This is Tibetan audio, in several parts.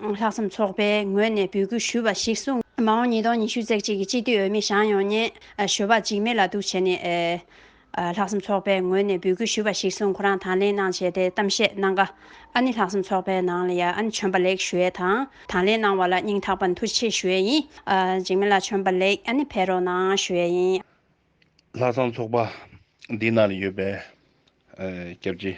ལྷག་བསམ་ཚོགས་པའི་ངོས་ནས་འབོད་སྐུལ་ཞུས་པ་ཞིག་གསུངས། མ་འོངས་ཉིས་སྟོང་ཉི་ཤུ་ཚེག་གཅིག་གི་སྤྱི་འཐུས་འོས་མི་ཞང་ཡོངས་ཉེན་ཞོ་བ་འཇིགས་མེད་ལ་གཏུགས་བྱས་ནས། ལྷག་བསམ་ཚོགས་པའི་ངོས་ནས་འབོད་སྐུལ་ཞུས་པ་ཞིག་གསུངས་ཁོ་རང་དང་ལེན་གནང་བྱས་ཏེ་གཏམ་བཤད་གནང་སྐབས། ཨ་ནི་ལྷག་བསམ་ཚོགས་པའི་ནང་ལ་ཡ་ཨན་བྱོན་པ་ལེགས་ཞུ་ཡས་དང་དང་ལེན་གནང་བ་ལ་སྙིང་ཐག་པ་འཐུ་ཆེ་ཞུ་ཡས་ཡིན། འཇིགས་མེད་ལ་བྱོན་པ་ལེགས་ཨ་ནི་ཕེ་རོགས་གནང་ཞུ་ཡས་ཡིན། ལྷག་བསམ་ཚོགས་པ་འདི་ནང་ལ་ཡོད་པའི་སྐྱབས་རྗེ།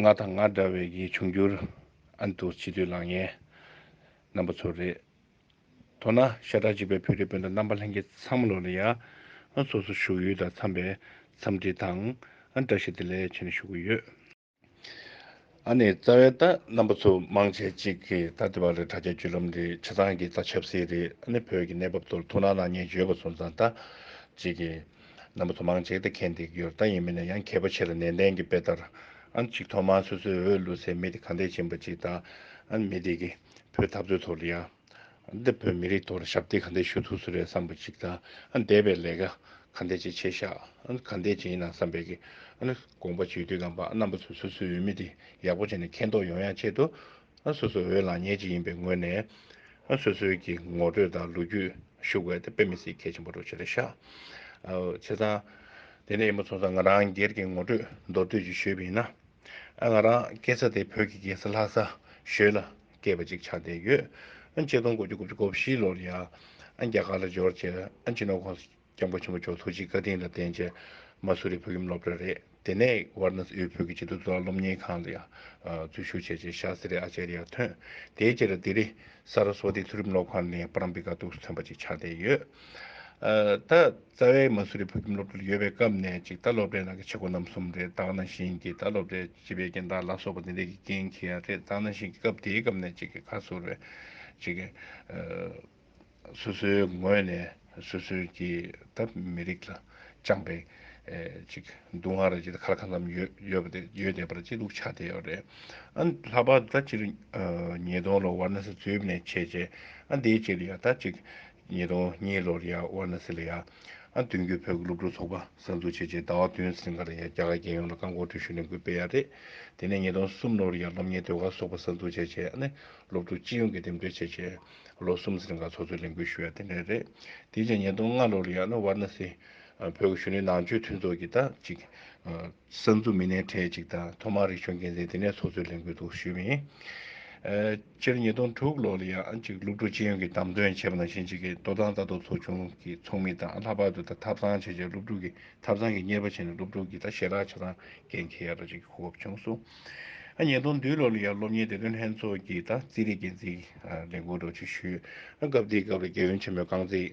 ང་དང་ང་འདྲ་བའི་ཡིད་འབྱུང་འགྱུར། ཨ་མདོ་སྤྱི་འཐུས་ལགས་ངའི་རྣམ་པ་ཚོ་རེད། མདོར་ན་ཤ་ཁྲག་གཅིག་པའི་བོད་རིགས་སྤུན་ཟླ་རྣམ་པ་ལྷན་རྒྱས་ཚང་མ་ལོ་ན་ཡ་ང་སོ་སོ་བཞུགས་ཡུལ་དང་འཚམས་པའི་འཚམས་འདྲི་དང་བཀྲ་ཤིས་བདེ་ལེགས་བྱིན་ཞུ་གི་ཡོད། ཨ་ནེ་རྩ་བའི་རྟ་རྣམ་པ་ཚོ་མང་ཆེ་གཅིག་གིས་ད་དེ་བ་རི་དྲ་རྒྱ་བརྒྱུད་ལམ་རེད་བྱེད་སྟངས་ཀྱི་རྩ་ཆབ་སྲིད་རེད་ཨ་ནེ་བོད་ཀྱི་གནས་བབ་ཐོར་ཐུག་ན་ནག་ཉེས་བརྗོད་པ་ཚོ་མཛའ་ད་གཅིག་གིས་རྣམ་པ་ཚོ་མང་ཆེ་ད་ཁས་འདེགས་རྒྱུར་རྟ་ཡིན་མིན་ན་ཡང་མཁས་པ་ཆེ་ལ་ནན་ཏན་གྱི་དཔེ་ལྟར་ཨ་ནེ་གཅིག་ཐོག་མར་སོ་སོའི་འོས་བླུགས་སའི་མི་དེ་གང་དེ་བྱིན་པ་གཅིག་ད་ཨ་ནེ་མི་དེ་གིས་བོད་འཐབ་རྩོད་ཐོག་རི་ཡ། འདིར་བོད་མི་རིགས་ཐོག་ཞབས་འདེགས་ག་འདྲས་ཞུ་ཐུབ་ས་རེད་བསམ་པ་ཞིག་དང་འདས་པའི་ལས་ཀ་ག་འདྲས་བྱས་བྱས་ཤག་ག་འདས་བྱས་ཡིན་ནམ་བསམ་པའི་གི་དགོངས་པ་བརྗོད་དུས་རྐང་པ་རྣམ་པ་ཚོས་སོ་སོའི་འོས་མི་དེ་ཡག་པོ་བྱས་ནས་མཁྱེན་རྟོགས་ཡོང་ཡག་ཆེད་དུ་སོ་སོའི་འོས་ལངས་ཉེས་ཅིག་ཡིན་པའི་ངོས་ནས་སོ་སོའི་གི་ངོ་སྤྲོད་དང་ལོ་རྒྱུས་ཞུ་དགོས་དཔེ་མི་སྲིད་གལ་ཆེན་པོ་འགྲོ་ཆེ་རེད་ཤག་བྱས་ཙང་དེ་ནས་ཡིན་མ་ཚོགས་ཙང་ང་རང་སྒེར་གྱི་ངོ་སྤྲོད་མདོར་བསྡུས་ཅིག་ཞུས་པ་ཡིན་ན་ང་རང་སྐྱེས་ས་དེ་བོད་ཀྱི་རྒྱལ་ས་ལྷ་ས་ཞོལ་ལ་སྐྱེས་པ་ཅིག་ཆགས་བསྡད་ཡོད། ཆེད་གཏོང་དགུ་བཅུ་དགུ་བཅུ་གོ་བཞི་ལོར་ཡང་རྒྱ་གར་ལ་འབྱོར་རྗེས་སྤྱི་ནོར་ཁོངས་སུ་སྐྱབས་མགོན་ཆེན་པོ་མཆོག་ཐུགས་རྗེའི་བཀའ་དྲིན་ལ་བརྟེན་རྗེས་མ་སུ་རིའི་བོད་ཁྱིམ་སློབ་གྲྭ་རེད་དེ་ནས་ཝར་ནཱ་སི་ཨིའི་བོད་ཀྱི་སྤྱི་ཐུབ་བཟོ་ལག་སློབ་གཉེར་ཁང་ལ་ཡང་འཛུལ་ཞུགས་བྱས་རྗེས་ཤཱ་སི་རེ་ཨ་ཅཱ་རི་ཡར་ཐོན། དེའི་རྗེས་ལ་ལྡི་ལི། སཱ་རཱ་སཝཱ་ཏི་མཐོ་རིམ་སློབ་ཁང་ནས་པ་རམ་པི་ཀ་ཐུགས་སུ་ཐོན་པ་ཅིག་ཆགས་བསྡད་ཡོད། ད་རྩ་བའི་མ་སུ་རི་བོད་ཁྱིམ་སློབ་གྲྭ་ལ་ཡོད་པའི་སྐབས་ནས་ཅིག་ད་སློབ་གྲྭའི་ནང་གི་ཆེ་གོ་རྣམ་གསུམ་རེད་དྭགས་ན་བཞིན་གྱིས་ད་སློབ་གྲྭའི་བྱིས་པའི་རྐྱེན་དང་ལ་སོགས་པ་འདི་འདྲས་ཀྱི་རྐྱེན་གྱིས་ཡང་རེད་ད་ནང་བཞིན་གྱི་སྐབས་དེའི་སྐབས་ནས་གཅིག་གིས་ཁ་ཟུར་བས་གཅིག་གིས། སོ་སོའི་ངོས་ནས་སོ་སོའི་གྱི་ད་མི་རིགས་ལ་བཅངས་པའི། གཅིག་སྡུག་བསྔལ་རེད་ཅེས་ད་ཁ་ལ་ཁ་ཙམ་ཡོད་པ་དེ་ཡོད་བསྡད་པར་ཅི་སྡུག་ཆགས་བསྡད་ཡོད་རེད། ཨ་ལྷག་པར་དུ་ད་སྤྱིར་ཉིས་སྟོང་ལོ་ཝར་ན་སི་འཛུལ་ནས་བྱས་རྗེས་ཨ་འདིའི་རྗེས་ལ་ཡང་ད་གཅིག་ཉིས་སྟོང་གཉིས་ལོར་ཡང་ཝར་ན་སི་ལ་ཡང། མདུན་སྐྱོད་བོད་ཀྱི་སློབ་ཕྲུག་ཚོགས་པ་གསར་འཛུགས་བྱས་རྗེས་ཟླ་བ་བདུན་ཟིན་ཁར་ཡང་རྒྱ་གར་རྒྱལ་ཡོངས་ལ་རྐང་འཁོར་འགྲུལ་བཞུད་ལས་འགུལ་སྤེལ་ཡག་རེད། དེ་ནས་ཉིས་སྟོང་གསུམ་ལོར་ཡང་སློབ་གཉེར་ཟློས་གར་ཚོགས་པ་གསར་འཛུགས་བྱས་རྗེས་སློབ་ཕྲུག་སྤྱི་ཡོངས་ཀྱིས་འདེམས་སྒྲུག་བྱས་རྗེས་ལོ་གསུམ་ཟིན་ཁར་ཚོགས་གཙོའི་ལས་འགུལ་ཞུ་ཡག་དེ་འདྲ་རེད། དེའི་རྗེས་ཉིས་སྟོང་ལྔ་ལོར་ཡང་ཝར་ན་སི། བོད་ཀྱི་གཞོན་ནུའི་ནང་ཆོས་མཐུན་ཚོགས་ཀྱི་དང་གཅིག། གསར་འཛུགས་མི་སྣའི་གྲས་གཅིག་དང་ཐོག་མར་རིག་གཞུང་འགན་འཛིན་དེ་ནས་ཚོགས་གཙོའི་ལས་འགུལ་དུ་ཞུགས། སྤྱིར་ཉིས་སྟོང་དྲུག་ལོ་ལ་ཡང་གཅིག་སློབ་ཕྲུག་སྤྱི་ཡོངས་ཀྱིས་བདམས་ཐོན་བྱས་པ་ནང་བཞིན་གཅིག་གིས་སྟོད་ཐང་རྩ་གཏོར་ཚོ་ཆུང་གི་ཚོགས་མི་དང་ལྷག་པར་དུ་ད་ཐབ་ཚང་བྱེད་བྱེད་སློབ་ཕྲུག་གི་ཐབ་ཚང་གི་གཉེར་པ་བྱས་ནས་སློབ་ཕྲུག་གིས་ད་ཞལ་རག་བྱ་སྟངས་འགན་འཁྱེར་ཡག་ར་ཅིག་གི་གོ་སྐབས་བྱུང་སོང། ཉིས་སྟོང་བདུན་ལོ་ལ་ཡང་སློབ་གཉེར་བདེ་དོན་ལྷན་ཚོགས་ཀྱིས་ད་རྩིས་རིག་འགན་འཛིན་ལས་འགུལ་སྒྲོག་བྱེད་ཞུས། སྐབས་དེའི་སྐབས་ལ་རྒྱལ་ཡོན་ཆེན་མོའི་རྐང་རྩེད།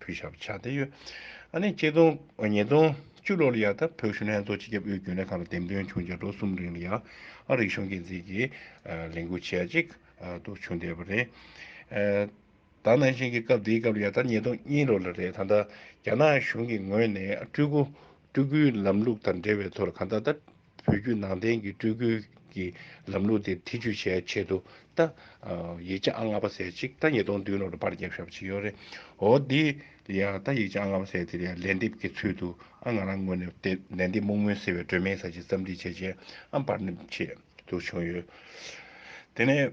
བོད་ཞབས་ཕྱག་བསྟན་ཡོད། ཨ་ནེ་སྐྱིད་སྟོང་ཉིས་སྟོང་བཅུ་ལོར་ཡ་ཐབས་བོད་གཞུང་ལྷན་ཚོགས་སྤྱི་ཁྱབ་ཨུའི་རྒྱུན་ལས་ཁང་ལ་འདེམས་ཐོན་བྱུང་རྗེས་ལོ་གསུམ་རིང་ལ་ཡ་ཨ་རིག་གཞུང་འགན་འཛིན་གྱི་ལས་འགུལ་བྱས་རྗེས་དུ་བྱུང་བསྡད་པ་རེད། ད་ནང་བཞིན་གྱི་སྐབས་འདིའི་སྐབས་ཡ་ཐབས་ཉིས་སྟོང་གཉིས་ལོ་ལ་རེད་ད་ལྟ་རྒྱ་ནག་གཞུང་གི་ངོས་ནས་སྤྲུལ་སྐུའི་ལམ་ལུགས་དང་འབྲེལ་བའི་ཐོག་ལ་གང་ལྟར་ད་བོད་བརྒྱུད་ནང་བསྟན་གྱི་སྤྲུལ་སྐུའི་གྱི་ལམ་ལུགས་དེ་ཐེ་ཇུས་བྱས་ཆེད་དུ་ད། ཡིག་ཆ་ཨང་ལྔ་པ་ཟེར་ཅིག་ད་ཉིས་སྟོང་བདུན་ལོར་པར་བརྒྱབ་ཤོག་པ་ཅིག་ཡོད་རེད། འོ་དེ་ཡང་ད་ཡིག་ཆ་ཨང་ལྔ་པ་ཟེར་དེ་ཡང་ལན་འདེབས་ཀྱི་ཚུལ་དུ་ཨང་ང་རང་ངོས་ནས་དེ་ལན་འདེབས་སྨུག་མོའི་སེར་བའི་སྒྲོན་མེའི་ས་ཆེན་རྩམ་སྒྲིག་བྱས་རྗེས་ཨམ་པར་འདེབས་ཆེད་དུ་བྱུང་ཡོད། དེ་ནས།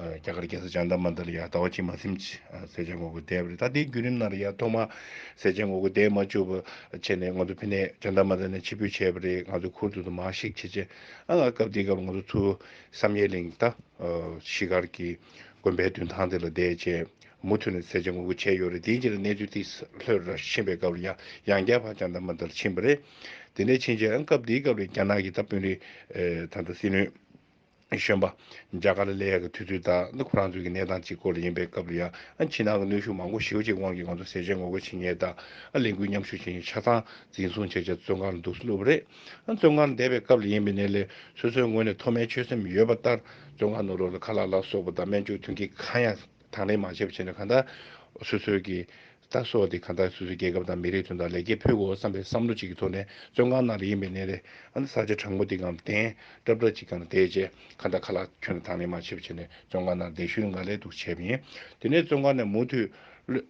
རྒྱ་གར་རྒྱལ་ས་ལྕང་ཐ་མ་འདི་ལ་ཡང་ཟླ་བ་གཅིག་མ་སེམས་ཀྱིས་ཟས་བཅད་ངོ་རྒོལ་འདས་པ་རེད་ད་དེའི་བརྒྱུད་རིམ་ནང་ལ་ཡང་ཐོག་མ་ཟས་བཅད་ངོ་རྒོལ་འདས་མ་བཅུག་པ་བྱས་ནས་ང་ཚོ་ཕི་ནས་ལྕང་ཐ་མ་འདི་ནས་ཕྱིར་འབུད་བྱས་པ་རེད་ང་ཚོའི་ཁུར་དུ་དུ་མ་ཞིག་བྱེད་ཆེད་ཨང་ང་སྐབས་དེའི་སྐབས་ང་ཚོ་ཚུར་བསམ་ཡས་གླིང་ད་གཞིས་སྒར་གྱི་དགོན་པའི་མདུན་ཐང་འདི་ལ་བསྡད་རྗེས་མུ་མཐུད་ནས་ཟས་བཅད་ངོ་རྒོལ་བྱས་ཡོད་རེད་དེའི་རྗེས་ལ་གནས་ཚུལ་དེ་ལྷོད་ར་ཕྱིན་པའི་སྐབས་ལ་ཡང་ཡང་བསྐྱར་བར་ལྕང་ཐ་མ་འདི་ལ་ཕྱིན་པ་རེད་དེ་ནས་ཕྱིན་རྗེས་ཨང་སྐབས་དེའི་སྐབས་ལ་རྒྱ་ནག་གི་ད་དཔོན་རིགས་དང་ད་སྲིད་བློན། གཞོན་པ། རྒྱ་གར་ལས་ཀྱི་དུས་ཚོད་དང་ནི་ཁོ་རང་ཚོའི་གནས་སྟངས་གཅིག་སྐོར་ཡིན་པའི་སྐབས་རེ་ཡང་ཕྱི་ནང་གི་གནོན་ཤུགས་མང་པོ་ཞེའུ་ཅིག་དབང་གིས་ང་ཚོ་ཟས་བཅད་ངོ་རྒོལ་བྱེད་ཉལ་དང་ལས་འགུལ་མཉམ་ཞུགས་བྱེད་ཉལ་ཆ་ཚང་འཛིན་བཟུང་བྱས་རྗེས་བཙོན་ཁང་ལ་འདུག་སྲོལ་སློབ་པ་རེད། བཙོན་ཁང་ལ་བསྡད་པའི་སྐབས་ལ་ཡིན་པའི་ནས་ལས་སོ་སོའི་ངོས་ནས་མཐོ་དམན་ཆོད་སེམས་ཡོད་པ་ལྟར་བཙོན་ཁང་ནང་རོ་ལ་ཁ་ལག་ལ་སོགས་པ་དང་སྨན་བཅོས་ཐོན་སྐྱེད་གང་ཡང་དང་ལེན་མ་བྱས་པ་བྱས་ནས་གང་ལྟར་སོ་སོའི་གི་ལྟ་སོགས་དེ་གང་ལྟར་སོ་སོའི་རྒྱལ་ཁབ་དང་མི་རིགས་དོན་དང་ལེགས་སྐྱེས་ཕུལ་དགོས་བསམ་པའི་བསམ་བློ་གཅིག་གི་ཐོག་ནས་བཙོན་ཁང་ནང་ལ་ཡིན་པའི་གནས་རེད། ཨ་ན་ས་ཆ་དྲང་པོ་འདི་གའམ་བརྟེན་གྲབ་གྲབ་ཅིག་གང་ལ་བསྡད་རྗེས་ཁ་བརྡ་ཁ་ལག་ཁྱོན་ལ་དང་ལེན་མ་བྱས་པ་བྱས་ནས་བཙོན་ཁང་ནང་བསྡད་ཤུལ་འགའ་ལས་འདུག་བྱས་པ་ཡིན། དེ་ནས་བཙོན་ཁང་ནས་མུ་མཐུད་གློད།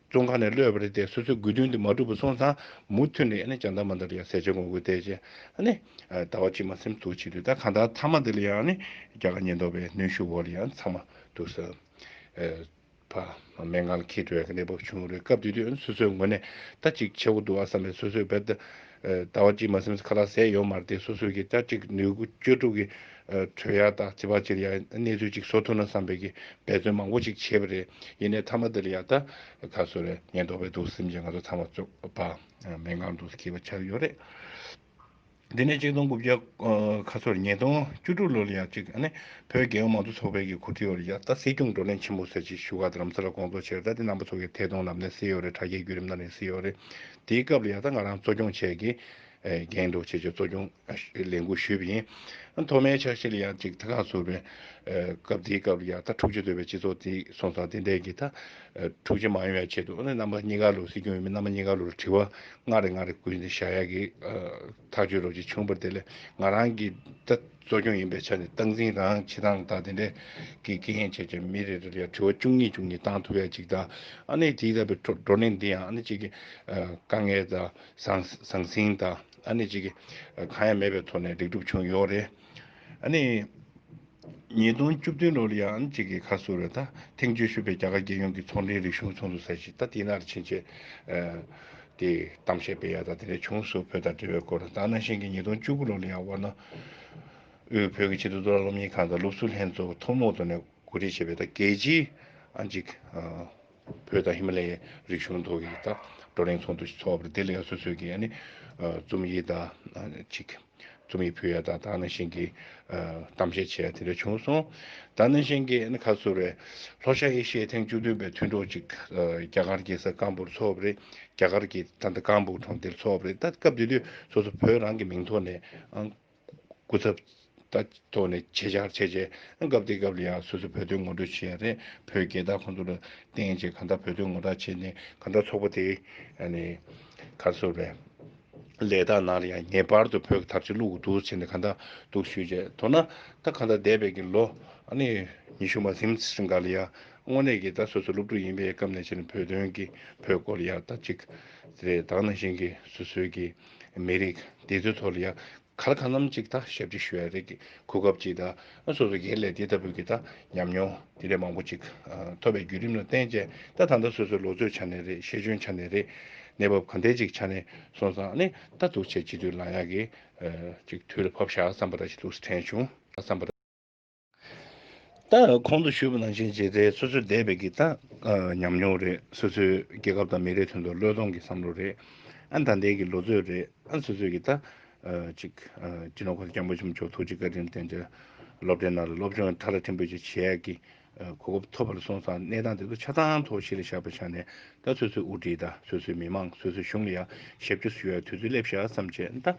བཙོན་ཁང་ནས་གློད་པ་རེད་དེ་སོ་སོའི་དགོས་དོན་དེ་མ་འགྲུབ་པ་སོང་ཙང་མུ་མཐུད་ནས་ཨ་ནི་ཅང་འདར་མ་འདར་ཡང་ཟས་བཅད་གོང་བཀོད་བསྡད་རྗེས་ཨ་ནི། ཟླ་བ་གཅིག་མ་སེམས་སྡུག་བྱེད་དུས་ད་གང་ལྟར་མཐའ་མ་འདི་ལ་ཡང་ཨ་ནི་རྒྱ་དཀར་ཉེན་རྟོག་པའི་གནོན་ཤུགས་འོག་ལ་ཡང་ཚང་མ་འདུག་ཟེར། བ། མན་ངག་ལ་ཁྱེད་སྤྲོས་གནས་བབ་བྱུང་རེད་སྐབས་དེ་དུས་སོ་སོའི་ངོས་ནས་ད་གཅིག་བྱེད་དགོས་འདུག་ཨ་ས་ལས་སོ་སོས་བེད་ལྟ་བ་གཅིག་མ་སེམས་ཁ་ལ་ཟས་ཡོད་མ་རེད་སོ་སོས་ཀྱིས་ད་གཅིག་ནུས་གུ་སྤྱོད་དྲུག་གིས་གྲོས་ཡག་དག་བྱེད་པ་ཕྱིར་ཡང་གནས་ཚུལ་གཅིག་བཟོ་ཐུབ་ན་བསམ་པས་ཀྱིས་འབད་བརྩོན་མང་པོ་གཅིག་བྱས་པ་རེད་ཡིན་ནའི་མཐའ་མ་འདིར་ཡང་ད་ག་སོ་རེ་ཉེན་རྟོག་པའི་དུག་སེམས་ཀྱིས་ང་ཚོ་ཚང་མ་བཙོ་བ་མན་ངག་འདུག་ཟེར་གྱི་བ་ཆགས་ཡོད་རེད། འདི་ནས་གཅིག་སྟོང་དགུ་བརྒྱ་ཁ་ཚོར་ཉིས་སྟོང་བཅུ་དྲུག་ལོར་ཡང་གཅིག་ཨ་ནེ་བོད་རྒྱལ་ཡོངས་མང་གཙོ་ཚོགས་པའི་གི་གུ་ཏྲིའོ་རི་ཡག་ཏཱ་སྲིད་སྐྱོང་བགྲོ་གླེང་ཆེན་མོ་སེར་བྱེས་བཞུགས་སྒར་དུ་རམ་ས་ལ་དགོངས་ཚོགས་ཆེར་བསྟར་ཏེ་རྣམ་པ་ཚོགས་ཀྱི་ཐད་གཏོང་ལམ་སྟོན་སེ་ཡོ་རེ་དྲ་རྒྱའི་བརྒྱུད་རིམ་གནང་རིང་སེ་ཡོ་རེ་དེའི་སྐབས་ལ་ཡག་ཏཱ་ང་རང་གཙོ་སྐྱོང་བྱས་ཀྱི། རྒན་འགྲོ་བྱེད་ཆོག་གཙོ་སྐྱོང་ལས་འགུལ་ཞུས་པ་ཡིན། མཐོ་དམན་ཆགས་ཤིག་ལ་ཡང་གཅིག་ཐ་ག་ཚོར་བའི། སྐབས་དེའི་སྐབས་ལ་ཡག་ཏཱ་འཁྲུག་ཆེ་དོད་པའི་སྤྱི་ཚོགས་དེ་སོང་ཙང་དེ་འདས་ཀྱི་ད། འཁྲུག་ཆེ་མ་ཡོང་བའི་ཆེད་དུ་ཨ་ནེ་རྣམ་པ་གཉིས་ཀ་ལོ་སྲིད་སྐྱོང་ཡིན་མིན་རྣམ་པ་གཉིས་ཀ་ལོ་ལ་དྲི་བ། ང་རེ་ང་རེ་བསྐུལ་ནས་བྱ་ཡག་གི་ཐག་གཅོད་རོགས་གཅིག་ཆུང་བར་དེ་ལས་ང་རང་གི་ད་གཙོ་སྐྱོང་ཡིན་པའི་ཆ་ནས་སྟངས་འཛིན་རང་བྱེད་དང་ད་དེ་འདྲས་ཀྱི་དགེ་རྒན་བྱས་བྱས་མི་རེ་རེ་ལ་ཡང་དྲི་བ་བཅུ་གཉིས་བཅུ་གཉིས་བཏང་ཐུབ་ཡག་གཅིག་ད་ཨ་ནེ་དེའི་ལྟ་བུའི་བགྲོ་གླེང་འདི་ཡང་ཨ་ནེ་གཅིག་གི་དཀའ་ངལ་ད་ཟང་ཟིང་ད་ཨ་ནེ་གཅིག་གི་གང་ཡང་མེད་པའི་ཐོག་ནས་ལེགས་འགྲུབ་བྱུང་ཡོད་རེད། ནི། ཉིས་སྟོང་བཅུ་བདུན་ལོར་ཡ་ཨན་བཅས་ཀྱི་ཁ་གསོ་རེ་ད་ཐེངས་བཅོལ་ཞུས་པའི་རྒྱ་གར་རྒྱལ་ཡོངས་ཀྱི་ཚོང་འབྲེལ་རིག་གཞུང་ཚོགས་འདུ་ཟེར་ཞིག་ད་དེ་ནར་ཕྱིན་ཆད། དེ་གཏམ་བཤད་སྤེལ་ཡ་ད་དེ་ནས་བྱུང་སུ་བོད་དང་འབྲེལ་བའི་སྐོར་ད་ནང་བཞིན་གྱི་ཉིས་སྟོང་བཅུ་དགུ་ལོར་ལ་ཡང་བར་ན། དབུས་བོད་ཀྱི་ཆེད་དུ་མདོ་ལ་སློབ་གཉེར་ཁང་དང་སློབ་ཟུར་ལྷན་ཚོགས་ཐུན་མོང་ཐོག་ནས་གོ་སྒྲིག་བྱས་པའི་ད་གེ་ཇི་ཨན་གྱི། བོད་དང་ཧི་མ་ལའི་རིག་གཞུང་ཐོག་གི་བཀའ་བགྲོ་གླེང་ཚོགས་འདུ་ཞིག་འཚོགས་པར་བདེ་ལེགས་སོ་སོས་ཀྱི་རྩོམ་ཡིག་དང་ཅིག་རྩོམ་ཡིག་ཕུལ་ཡ་དང་དྭགས་ནང་བཞིན་གྱི་གཏམ་བཤད་བྱས་ཡ་དེ་འདྲ་བྱུང་སོང། དྭགས་ནང་བཞིན་གྱི་ཁ་གསོ་རེད། ལྷོ་ཤར་ཨེ་ཤི་ཡའི་ཐེངས་བཅུ་བདུན་པའི་མཐུན་གྲོགས་ཅིག་རྒྱ་གར་གྱི་ས་སྐམ་པོར་འཚོགས་པ་རེད། རྒྱ་གར་གྱི་ད་ལྟ་སྐམ་པོ་གྲོང་སྡེར་འཚོགས་པ་རེད། ད་སྐབས་དེ་དུས་སོ་སོ་བོད་རང་གི་མིང་ཐོག་ནས་ཨང། སྐུ་ཚབ། ལྟ་ཐོག་ལས་བྱེད་བཅར་ཆས་བཅས་སྐབས་དེ་སྐབས་ལ་ཡང་སོ་སོས་བོད་དོན་ངོ་སྤྲོད་བྱེད་ཡ་རེད་བོད་རྒྱལ་དར་ཁོང་ཚོ་ལ་བསྟན་རྗེས་གང་ལྟར་བོད་དོན་ངོ་རྟགས་བྱེད་ནས་གང་ལྟར་ཚོགས་པ་དེ་གར་སོ་བས། ལས་དང་ནང་ལ་ཡང་ངེས་པར་དུ་བོད་ཀྱི་དར་ཆ་བླུག་དགོས་འདུག་ཟེར་ནས་གང་ལྟར་འདུག་ཞུས་རྗེས་མདོར་ན་ད་གང་ལྟར་འདས་པའི་གི་ལོ། ཉི་ཤུ་མ་ཟིན་ཟིན་འགའ་ལ་ཡང་དངོས་གནས་གི་ད་སོ་སོ་སློབ་ཕྲུག་ཡིན་པའི་སྐབས་ནས་བྱས་ནས་བོད་དོན་གི་བོད་སྐོར་ཡག་ལྟ་ཅིག་རེད་དང་ནང་བཞིན་གི་སོ་སོའི་གི་མི་རིགས་འདི་ཚོའི་ཐོག་ལ་ཡང་གར་ཁ་རྣམས་གཅིག་དང་ཞབས་ཕྱི་ཞུ་བའི་རིགས་ཀྱི་གོ་སྐབས་ཅིག་དང་སོ་སོ་གའི་ལས་དེ་ལྟ་བུ་གི་དང་ཉམས་མྱོང་དེ་འདྲའི་མང་པོ་ཅིག་ཐོབ་པའི་བརྒྱུད་རིམ་ལ་བརྟེན་བྱས་ད་ད་ལྟ་སོ་སོའི་ལོ་ཚོད་ཆ་ནས་རེད་ཤེས་འཇོན་ཆ་ནས་རེད་གནས་བབ་གང་འདྲའི་ཅིག་ཆ་ནས་སོང་ཙང་ནི་ད་ཐུགས་ཆེ་སྤྱི་འཐུས་ལ་ཡག་གི་ཅིག་དུས་ལ་བབ་ཤག་བསམ་པ་འདྲ་ཞིག་འདུག་སེ་དྲན་བྱུང། ད་གོང་དུ་ཞུས་པ་ནང་བཞིན་རྗེས་འབྲེལ་སོ་སོས་འདས་པའི་གི་ད་ཉམས་མྱོང་རེད་སོ་སོའི་རྒྱལ་ཁབ་དང་མི་རིགས་དོན་དུ་བློས་གཏོང་གི་བསམ་བློ་རེད་ཨ་ད་ལྟའི་གི་ལོ་ཚོད་རེད་ཨ་སོ་སོས་གི་ད་ཅིག་སྤྱི་ནོར་ཁོང་སྐྱབས་མགོན་ཆེན་པོ་མཆོག་ཐུགས་རྗེ་བཀའ་དྲིན་རྟེན་འབྲེལ་སློབ་གྲྭའི་ནང་ལ་སློབ་སྦྱོང་ཡང་ཐ་ར་ཐིམ་པོ་ཅིག་བྱེད་ཡག་གི་གོ་སྐབས་ཐོབ་པར་སོང་ཙང་གནས་སྟངས་དེ་ཚོ་ཆ་ཚང་ཐོག་གཞི་ལ་བཞག་པའི་ཆ་ནས་ད་སོ་སོའི་དབུ་ཁྲིད་ད་སོ་སོའི་མི་མང་སོ་སོའི་གཞུང་ལ་ཡང་ཞབས་ཕྱི་སུ་ཡོད་ཡ་དུས་ཚོད་སླེབས་ཤག་བསམ་བྱས་ད།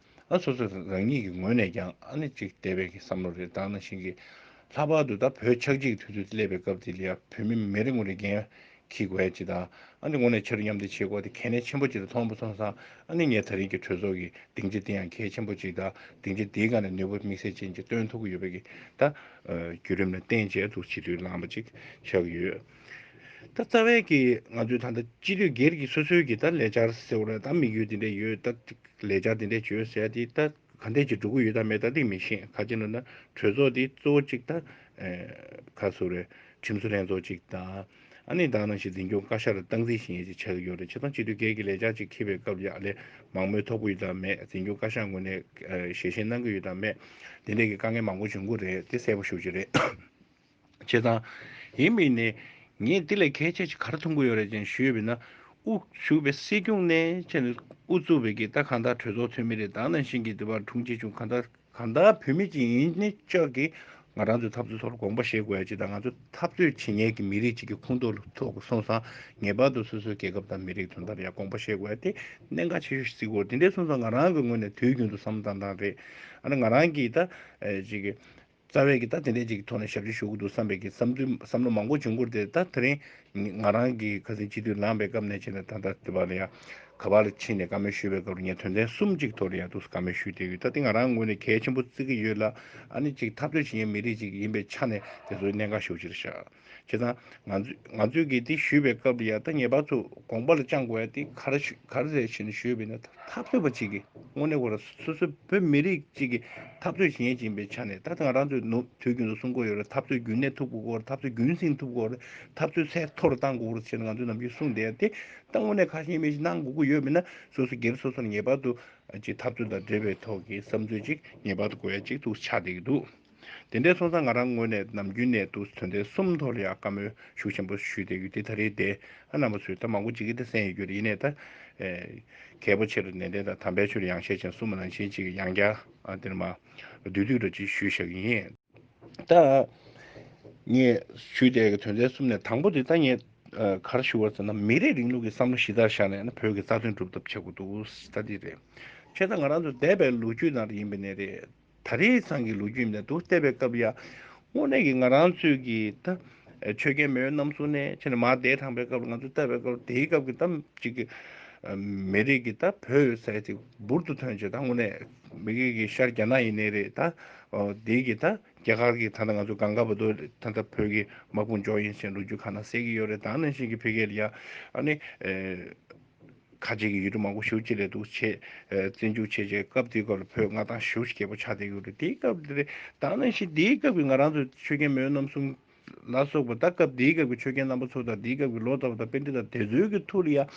ཨ་སོ་སོ་རང་ཉིད་ཀྱི་ངོས་ནས་ཀྱང་ཨ་ནི་ཅིག་དད་པའི་གི་བསམ་བློ་རེད་དང་ན་ཞིང་གི་ལྷག་པར་དུ་ད་བོད་ཆགས་འཇིག་དུས་ཚོད་སླེབས་པའི་སྐབས་དེ་ལ་བོད་མི་མི་རེ་ངོ་རེ་རྒན་གི་བས་ཅི་དང་ཨ་ནི་ངོ་ནས་ཆེ་རུ་མཉམ་འདེགས་བྱེད་དགོས་དེ་གལ་གནད་ཆེན་པོ་ཅིག་ལ་མཐོང་བོ་སོང་སང་ཨ་ནི་ངས་ད་རིང་གི་གྲོས་ཚོགས་གི་སྡིངས་ཆ་དེ་ཡང་གལ་ཆེན་པོ་ཅིག་དང་སྡིངས་ཆ་དེའི་སྒང་ནས་ནུས་པ་དམིགས་བསལ་ཅན་ཅིག་སྟོན་ཐུབ་གི་ཡོད་པའི་གི་ད་བརྒྱུད་རིམ་ལ་བརྟེན་བྱས་འདུག་བྱིས་དུས་ལངས་པ་ཅིག་ཆགས་ཡོད། ད་རྩ་བའི་གི་ང་ཚོའི་ད་ལྟ་སྤྱི་འཐུས་སྒེར་གྱི་སོ་སོའི་གི་ད་ལས་འཆར་ཟེར་བ་རེད་ད་དམིགས་ཡུལ་དེ་འདྲས་ཡོད་ད་ལས་འཆར་དེ་འདྲས་བྱོས་ཟེར་དེ་ད་ག་འདྲས་ཀྱི་འགྲོ་གི་ཡོད་ད་མེད་ད་དེ་མི་ཤེས་ག་ཅི་ན་ད་གྲོས་ཚོགས་དེ་གཙོ་བོ་གཅིག་ད་ག་སུ་རེད་ཁྲིམས་བཟོ་ལྷན་ཚོགས་གཅིག་ད་ཨ་ནི་ད་ནང་བཞིན་འཛིན་སྐྱོང་བཀའ་ཤག་ལ་སྟངས་འཛིན་བཞིན་ཡས་ཅིག་ཆགས་གི་ཡོད་རེད་ཆེ་ཐང་སྤྱི་འཐུས་སྒེར་གྱི་ལས་འཆར་གཅིག་འཁེལ་བའི་སྐབས་ཡག་ལས་མང་མོས་ཐོབ་གི་ཡོད་ད་མེད་འཛིན་སྐྱོང་བཀའ་ཤག་ངོས་ནས་ཞལ་བཞེས་གནང་གི་ཡོད་ད་མེད་དེ་འདྲས་གི་དཀའ་ངལ་མང་པོ་བྱུང་གི་རེད་དེ་གསལ་པོ་ཞུ་རྒྱུ་རེད། བྱས་ཙང། ཡིན་མིན་ནི། ངས་འདི་ལས་གལ་ཆེ་ཞིག་གར་མཐོང་གི་ཡོད་རེད་ཅེས་ཞུས་པས་ན། དབུ་བཞུགས་པའི་སྲིད་སྐྱོང་གནས་ཕྱེ་ནས་དབུ་བཙུགས་པའི་གི་ད་གང་དག་གྲོས་ཚོགས་འཐུས་མི་རེ་དང་ནང་བཞིན་གྱི་འདི་བར་དྲུང་ཆེ་ཆུང་གང་དག་གང་དག་བུད་མེད་ཅིག་ཡིན་ནི་ཅག་གིས་ང་རང་ཚོའི་འཐབ་རྩོད་ཐོག་ལ་དགོངས་པ་བཞེས་དགོས་ཡ་ཅིག་དང་ང་ཚོའི་འཐབ་རྩོད་བྱེད་ཉེས་ཀྱི་མི་རིགས་ཅིག་གི་ཁུངས་གཏོགས་ལ་ཐོག་གི་སོང་ཙང་ངེས་པར་དུ་སོ་སོའི་རྒྱལ་ཁབ་དང་མི་རིགས་དོན་དག་ལ་ཡང་དགོངས་པ་བཞེས་དགོས་ཡ་དེ་གནད་འགག་ཆེ་ཤོས་ཤིག་གོ་དེ་འདྲའི་སོང་ཙང་ང་རང་གི་ངོས་ནས་དུས་རྒྱུན་དུ་བསམ་བཏང་བཏང་རེད། ཨ་ན་ང་རང་གིས་ད་ཅིག། རྩ་བའི་གི་ད་དེ་འད་ཅིག་གི་ཐོག་ནས་ཞབས་ཕྱི་ཞུ་གི་འདུག་བསམ་པའི་གི་བསམ་ཚུལ་བསམ་བློ་མང་པོ་བྱུང་ཁུར་དེ་ད་དེ་རིང་ང་རང་གི་ཁ་སིང་སྤྱི་འཐུས་ལངས་པའི་སྐབས་ནས་བྱས་ནས་ད་ལྟ་དེ་བར་ཡང་ག་པར་ཕྱིན་ནས་བཀའ་མོལ་ཞུས་པའི་སྐབས་རུ་ངས་དོན་ཚན་གསུམ་གཅིག་ཐོག་རུ་ཡང་ཐུགས་སུ་བཀའ་མོལ་ཞུས་བསྡད་ཡོད་ད་དེ་ང་རང་ངོས་ནས་གལ་ཆེན་པོ་བརྩི་གི་ཡོད་ལ་ཨ་ནི་གཅིག་འཐབ་རྩོད་བྱེད་མཁན་མི་རིགས་གཅིག་ཡིན་པའི་ཆ་ནས་དེ་ཚོའི་གནད་འགག་ཤོག་ཕྱིར་བཞག། བྱེད་དང། ང་ཚོས་གལ་ཏེ་ཞུས་པའི་སྐབས་ལ་ཡང་ཐ་སྙད་པ་ཚོས་དགོངས་པ་ལ་བཅངས་དགོས་ཡ་དེ་གར་གར་ཟེར་བཞིན་ཞུས་པས་ན་འཐབ་རྩོད་པ་ཅིག་གིས་དངོས་གནས་ཁོ་རང་སོ་སོའི་བོད་མི་རིགས་གཅིག་གི་འཐབ་རྩོད་ཞེན་ཅིང་པའི་ཆ་ནས་ད་ལྟ་ང་རང་ཚོས་ནུབ་དུས་རྒྱུན་དུ་གསུང་དགོས་ཡོད་རེད་འཐབ་རྩོད་རྒྱུན་གནས་ཐུབ་དགོས་རེད་འཐབ་རྩོད་རྒྱུན་བསྲིང་ཐུབ་དགོས་རེད་འཐབ་རྩོད་ཚད་མཐོ་རུ་གཏང་དགོས་རེད་ཅེས་ང་ཚོས་ནམ་རྒྱུན་གསུང་བསྡད་ཡ་དེ་ད་དངོས་གནས་ཁ་ཞེ་མི་ཞེ་གནང་དགོས་ཀྱི་ཡོད་མེད་ན་སོ་སོ་སྒེར་སོ་སོར་ངེས་པར་དུ་འཐབ་རྩོད་དང་འབྲེལ་བའི་ཐོག་གི་བསམ་ཚུལ་ཅིག་ངེས་པར་དུ་གོ་ཡ་ཅིག་ཏུ་ཆགས་བསྡད་ཀྱི་འདུག། དེ་འདྲའི་སོང་ཙང་ང་རང་དངོས་གནས་ནམ་རྒྱུན་ནས་འདུག་དོན་དེ་གསུམ་ཐོག་ལ་ཡང་བཀའ་མོལ་ཤུགས་ཆེན་པོ་ཞུས་ཏེ་ཡུལ་སྡེ་ད་རེས་འདས་ཨ་ནང་པ་ཚོས་ད་མང་པོ་བྱེད་ཀྱི་ད་གསན་ཡོད་རྒྱུ་རེད་ཡིན་ནས་ད། གལ་པོ་ཆེ་རུ་ནན་ཏན་དང་དམ་པའི་ཆོས་ཡང་ཤས་ཆེན་གསུམ་མ་ནང་བཞིན་ཅིག་ཡང་བསྐྱར་འདིར་མ་བསྡུས་དུས་ལ་ཅིག་ཞུས་བཞག་གི་ཡིན། ད། ངས་ཞུས་དེ་དོན་དེ་གསུམ་ནས་དང་པོ་དེ་ད་ངས་གར་ཞུ་བར་ཟེར་ན་མི་རིགས་རིང་ལུགས་ཀྱི་བསམ་བློ་གཞི་རྩར་བཞག་ནས་ན་བོད་ཀྱི་རྩ་དོན་སྒྲུབ་ཐབས་བྱེད་དགོས་འདུག་ད་འདི་རེད། ཁྱེད་དང་ང་རང་ཚོ་འདས་པའི་ལོ་རྒྱུས་ནང་རེ་ཡིན་པའི་གནས་རེད། ད་རེས་ཚང་གི་ལོ་རྒྱུས་ནད་དུ་བལྟས་པའི་སྐབས་ཡར་སྔོ་ནས་ཀྱི་ང་རང་ཚོའི་ཀྱི་ད་ཆོས་རྒྱལ་མེས་ཡོན་རྣམ་གསུམ་ནས་ཕྱི་ནས་མར་འདས་དྲངས་པའི་སྐབས་ལ་ང་ཚོ་བལྟས་པའི་སྐབས་དེའི་སྐབས་ཀྱི་ད་ཅིག་གི་མི་རིགས་ཀྱི་ད་བོད་ཡོད་ས་ཅིག་འབུར་དུ་ཐོན་ཆེད་ད་སྔོ་ནས་མི་གིས་ཀྱི་ཤར་རྒྱ་ནག་ཡིན་ནའི་རེད་ད་དེའི་ཀྱི་ད་རྒྱ་གར་གྱི་ད་ང་ཚོ་གངས་དཀར་བོད་དོ་ད་ད་བོད་ཀྱི་དམག་དཔུང་འཇོག་ཡིན་ཞེས་ལོ་རྒྱུས་ཁ་ན་གསལ་གྱི་ཡོད་རེད་ད་ནང་བཞིན་གྱི་ཕི་གེ་ལི་ཡ་ཨ་ནི། ཁ་ཅིག་གིས་ཡུལ་གྲུ་མང་པོ་ཞུགས་ཅི་རེད་འདུག་ཆེས་བཙན་ཕྱུག་ཆེ་ཆེ་སྐབས་དེའི་སྐབས་ལ་བོད་མངའ་ཐང་ཞུགས་རྒྱལ་པོ་ཆགས་བསྡད་ཡོད་རེད་དེའི་སྐབས་དེ་རེད་ད་ནང་བཞིན་དེའི་སྐབས་ཀྱི་ང་རང་ཚོ་ཆོས་རྒྱལ་མོའི་རྣམ་གསུམ་ལ་སོགས་པ་ད་སྐབས་དེའི་སྐབས་ཀྱི་ཆོས་རྒྱལ་རྣམ་པ་ཚོ་དང་དེའི་སྐབས་ཀྱི་ལོ་ཙཱ་བ་དང་དཔེ་འདི་དང་དེ་ཚོའི་གི་ཐུགས་ལ་ཡང་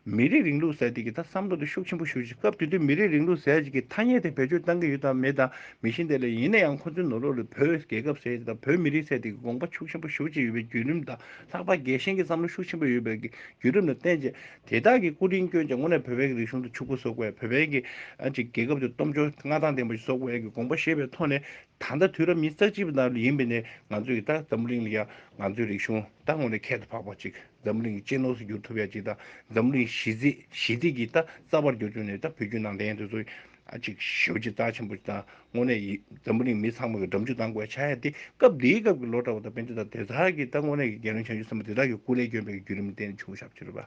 མི་རིགས་རིང་ལུགས་ཟེར་དེ་གི་ད་བསམ་བློ་དེ་ཤུགས་ཆེན་པོ་ཞུགས་ཅིག་སྐབས་དེ་དུས་མི་རིགས་རིང་ལུགས་ཟེར་ཅིག་གི་ཐ་སྙད་དེ་བེད་སྤྱོད་བཏང་གི་ཡོད་དང་མེད་དང་མི་ཤེས་དེ་ལས་ཡིན་ན་ཡང་ཁོང་ཚོའི་ནོར་ལོག་ལས་བོད་རྒྱལ་ཁབ་ཟེར་ཅིག་དང་བོད་མི་རིགས་ཟེར་དེ་གི་དགོངས་པ་ཕྱུགས་ཆེན་པོ་ཞུགས་ཅིག་ཡོད་པའི་བརྒྱུད་རིམ་དང་ལྷག་པར་རྒྱལ་ཞེན་གྱི་བསམ་བློ་ཤུགས་ཆེན་པོ་ཡོད་པའི་བརྒྱུད་རིམ་ལ་བརྟེན་ཅིང་དེ་དག་གི་སྐུ་དྲིན་བསྐྱོན་ཅིང་སྔོན་ནས་བོད་པའི་རིག་གཞུང་དུ་ཕྱུག་པོ་བཟོ་དགོས་བོད་པའི་རྒྱལ་ཁབ་དུ་སྟོབས་འབྱོར་མངའ་ཐང་ལྡན་པ་ཞིག་བཟོ་དགོས་ཀྱི་དགོངས་པ་བཞེས་པའི་ཐོག་ནས་ད་ལྟ་དུས་རབས་ཉིས་བརྩེགས་གཅིག་པའི་ནང་ཡིན་པས་ནས་ང་ཚོས་ཀྱི་ད་འཛམ་བུ་གླིང་ལ་ཡང་ང་ཚོའི་རིག་གཞུང་ད་སྔོན་ལས་ཁྱད་དུ་འཕགས་པ་ཅིག་འཛམ་བུ་གླིང་གི་གཅེས་ནོར་སུ་འགྱུར་ཐུབ་ཡ་ཅིག་ད་འཛམ་བུ་གླིང་ཞི་བདེ་གྱི་ད་རྩ་བར་འགྱུར་རྒྱུ་ནས་ད་བོད་བརྒྱུད་ནང་བསྟན་དུ་གཅིག་ཞི་བ་ཆེས་རྩ་ཆེན་པོ་དང་དངོས་གནས་ཡིན། འཛམ་བུ་གླིང་མི་ཚང་མ་གི་འགྲམ་ཆུ་ལྡང་དགོས་ཆགས་ཡ་དེ་སྐབས་དེའི་སྐབས་ཀྱི་ལོ་གྲྭ་བ་དང་བན་དེ་དང་དེ་དག་གིས་ད་དངོས་གནས་ཀྱི་རྒྱལ་བློན་བྱང་ཆུབ་སེམས་དཔའ་དེ་དག་གི་སྐུ་ལས་བསྐྱོན་པའི་བརྒྱུད་རིམ་བསྟན་བྱུང་ཞབས་ཕྱི་རུ་པ།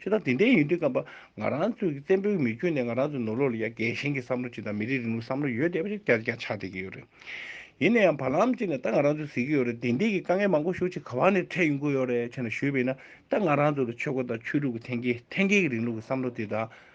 ཞེས་དང་དེ་འདྲའི་ཡིན་དུས་ཀ་བ་ང་རང་ཚོས་ཀྱི་བཙན་པོའི་མི་བསྐྱོན་ནས་ང་རང་ཚོའི་ནོར་ལོག་ལ་ཡ་རྒན་ཞིང་གི་བསམ་བློ་གཅིག་དང་མི་རིགས་རིང་ལུགས་བསམ་བློ་ཡོད་བསྡད་པ་ཞིག་བསྐྱར་ཀྱང་ཆགས་བསྡད་ཀྱི་ཡོད་རེད། ཡིན་ན་ཡང་བར་ལམ་གཅིག་ནས་ད་ང་རང་ཚོས་གཟིགས་ཀྱི་ཡོད་རེད་དེ་འདྲའི་ཀྱི་དཀའ་ངལ་མང་པོ་ཞུ་ཆེད་ཁ་བ་ནས་འཕྲད་ཡོང་གི་ཡོད་རེད་ཆེ་ན་ཞུས་པས་ན་ད་ང་རང་ཚོ་ལ་ཆོས་སྒོ་དང་ཆོས་ལུགས་ཀྱི་ཐན་སྐྱེད་ཐན་སྐྱེད་ཀྱི་རིང་ལུགས་ཀྱི་བསམ་བློ་དེ་དག་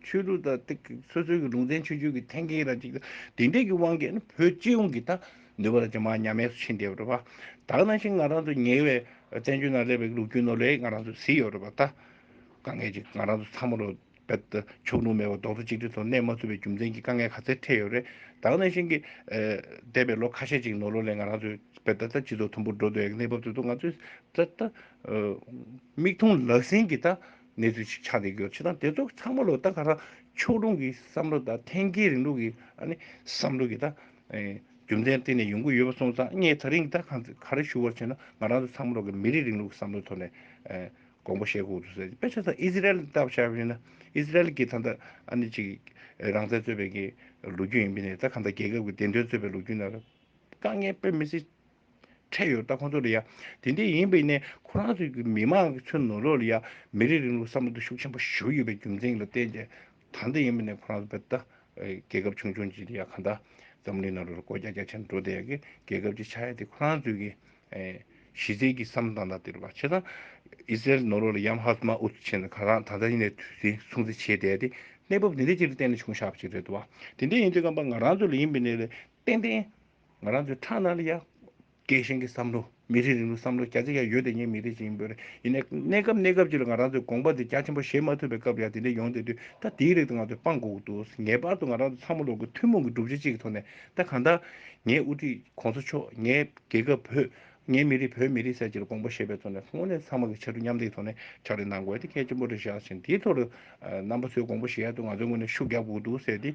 ཆོས་ལུགས་དང་སྟེ། སོ་སོའི་གི་ལུང་ཚན་ཆོས་བརྒྱུད་ཀྱི་ཐན་ཁེའི་ར་གཅིག་དང། དེ་འདྲས་ཀྱི་དབང་གིས་ནི་བོད་སྤྱི་ཡོངས་ཀྱི་དང། ནུས་པ་ར་གཅིག་མ་ཉམས་དམས་སུ་ཕྱིན་བསྡད་ཡོད་རེད་པ། དག་ན་ཞིང་ང་རང་ཚོ་ཉེ་བའི་བཙན་བྱོལ་ནང་སླེབས་པའི་ལུགས་རྒྱུད་ནོར་ལས་ང་རང་ཚོ་བཟི་ཡོད་རེད་པ་ད། དཀའ་ངལ་ཅིག་ང་རང་ཚོ་ཚང་མ་རོ། ཕྱོགས་ལྷུང་མེད་པར་རྡོག་རྩ་གཅིག་སྒྲིལ་ཐོག་གནས་མ་ཐུབ་པའི་རྒྱུ་མཚན་གྱིས་དཀའ་ངལ་ག་ཚད་འཕྲད་ཡོད་རེད། དག་ན་ཞིང་གི། འདས་པའི་ལོ་ཁ་ཤས་ཅིག་ནོར་ལོ་ལས་ང་རང་ཚོའི་བོད་ད་ད་སྤྱི་ཚོགས་མཐོན་པོར་འགྲོ་འདོད་ཡོད་གནས་བབ་དེ་ཚོ་ང་ཚོས་ད། མིག་མཐོང་ལག་ཟིན་གྱི་ད། གནས་ཚུལ་ཞིག་ཆགས་བསྡད་རྒྱུར་ཕྱི་དང་དེ་ཚོ་ཚང་མ་ལོག་ལྟ་ག་རང་ཕྱོགས་ལྷུང་གི་བསམ་བློ་དང་ཐན་སྐྱེའི་རིང་ལུགས་ཀྱི་བསམ་བློ་གིས་རྒྱུ་མཚན་སྟེང་ནས་ཡོང་གི་ཡོད་པ་སོང་ཙང་ངས་ད་རིང་ག་རེ་ཞུ་བར་བྱས་ན་ང་རང་ཚོ་ཚང་མ་ལོག་གི་མི་རིགས་རིང་ལུགས་ཀྱི་བསམ་བློའི་ཐོག་ནས་དགོངས་པ་བཞེས་ཁུག་ཏུ་ཟེར་དཔེ་ཆ་ཚང་ཨི་ཟི་རལ་ལྟ་བུ་ཆགས་ཡོད་ན་ཨི་ཟི་རལ་གྱི་ད་ལྟ་རང་བཙན་རྩོད་པའི་ལོ་རྒྱུས་ཡིན་པས་ནས་ད་ག་ད་རྒྱལ་ཁབ་ཀྱི་བདེན་དོན་རྩོད་པའི་ལོ་རྒྱུས་ན་དཀའ་ངལ་དཔེ་མི་སྲིད། འཕྲད་ཡོད་ད་ཁོང་ཚོ་ལ་ཡ། དེ་འདྲ་ཡིན་པས་ནས་ཁོ་རང་ཚོའི་གི་མི་མང་གི་ཚོའི་ནོར་ལོག་ལ་ཡ། མི་རིགས་རིང་ལུགས་བསམ་བློ་དེ་ཤུགས་ཆེན་པོ་ཞུགས་ཡོད་པའི་རྒྱུ་མཚན་ལ་བརྟེན་ཏེ། ད་འདྲ་ཡིན་པས་ནས་ཁོ་རང་ཚོ་བལ་ད། རྒྱལ་ཁབ་ཆུང་ཆུང་ཅིག་དེ་ཡ་ག་འདྲ། འཛམ་གླིང་ནང་ལོ་རེར་སྒོ་རྒྱ་རྒྱ་ཆེན་འགྲོ་དེ་ཡ་གི་རྒྱལ་ཁབ་ཅིག་ཆགས་ཡ་དེ་ཁོ་རང་ཚོའི་གི། གཞི་རྩའི་གི་བསམ་བློ་དང་ད་དེ་རུ་བ་ཆེ་ད། ཨི་སི་རལ་ནོར་ལོག་ལ་ཡམ་ཧ་སི་མ་ཨུ་ཚུགས་ཆེ་ན་ག་རང་ད་འདྲ་ཡིན་ནས་དུས་ཟིང་སྲུང་བརྩི་བྱེད་དེ་ཡ་དེ། གནས་བབ་དེ་འདྲ་ཅིག་ལ་བརྟེན་ནས་བྱུང་ཤག་པ་ཅིག་རེད་དོ་བ། དེ་འདྲ་ཡིན་དུས་ཀ་བ་ང་རང་ཚོ་ལ་ཡིན་པས་ནས་ལ་བརྟེན་ཏེ། ང་རང་ཚོའི་ཁྲག་ནང་ལ་ཡང། རྒྱལ་ཞེན་གྱི་བསམ་བློ། མི་རིགས་རིང་ལུགས་བསམ་བློ་རྒྱ་ཆེ་ཡང་ཡོད་དེ་ངས་མི་རིགས་ཅིག་ཡིན་པོད། ཡིན་ནའི། གནས་སྐབས་གནས་སྐབས་ཅིག་ལ་ང་རང་ཚོའི་དགོངས་པ་འདི་རྒྱ་ཆེན་པོ་བཞེས་མ་ཐུབ་པའི་སྐབས་ཡང་དེ་འདྲའི་ཡོང་སྡད་དུས་ད་དེའི་རིགས་དང་ང་ཚོས་སྤང་དགོས་འདུག་ངེས་པར་དུ་ང་རང་ཚོ་ཚང་མ་ལོ་དགུ་ཐུན་མོང་གི་སྒྲུབ་བྱེད་ཅིག་གི་ཐོག་ནས་ད་གང་ལྟར། ངའི་དབུ་ཁྲིད ྋགོང་ས་མཆོག་ངའི་རྒྱལ་ཁབ་བོད། ངའི་མི་རིགས་བོད་མི་རིགས་སེར་བྱེས་ལ་དགོངས་པ་བཞེས་པའི་ཐོག་ནས་སྔོན་ནས་ཚང་མ་གི་ཕྱར་གྲུ་མཉམ་འདེགས་ཐོག་ནས་ཕྱག་ལས་གནང་དགོས་ཡ་དེ་གལ་ཆེན་པོ་རེད་བཞག་བཞིན་དེའི་ཐོག་ལ། རྣམ་པ་ཚོའི་དགོངས་པ་བཞེས་ཡ་དུས་ང་ཚོའི་ངོས་ནས་ཤུགས་རྒྱབ་དགོས་འདུག་ཟེར་ཏེ།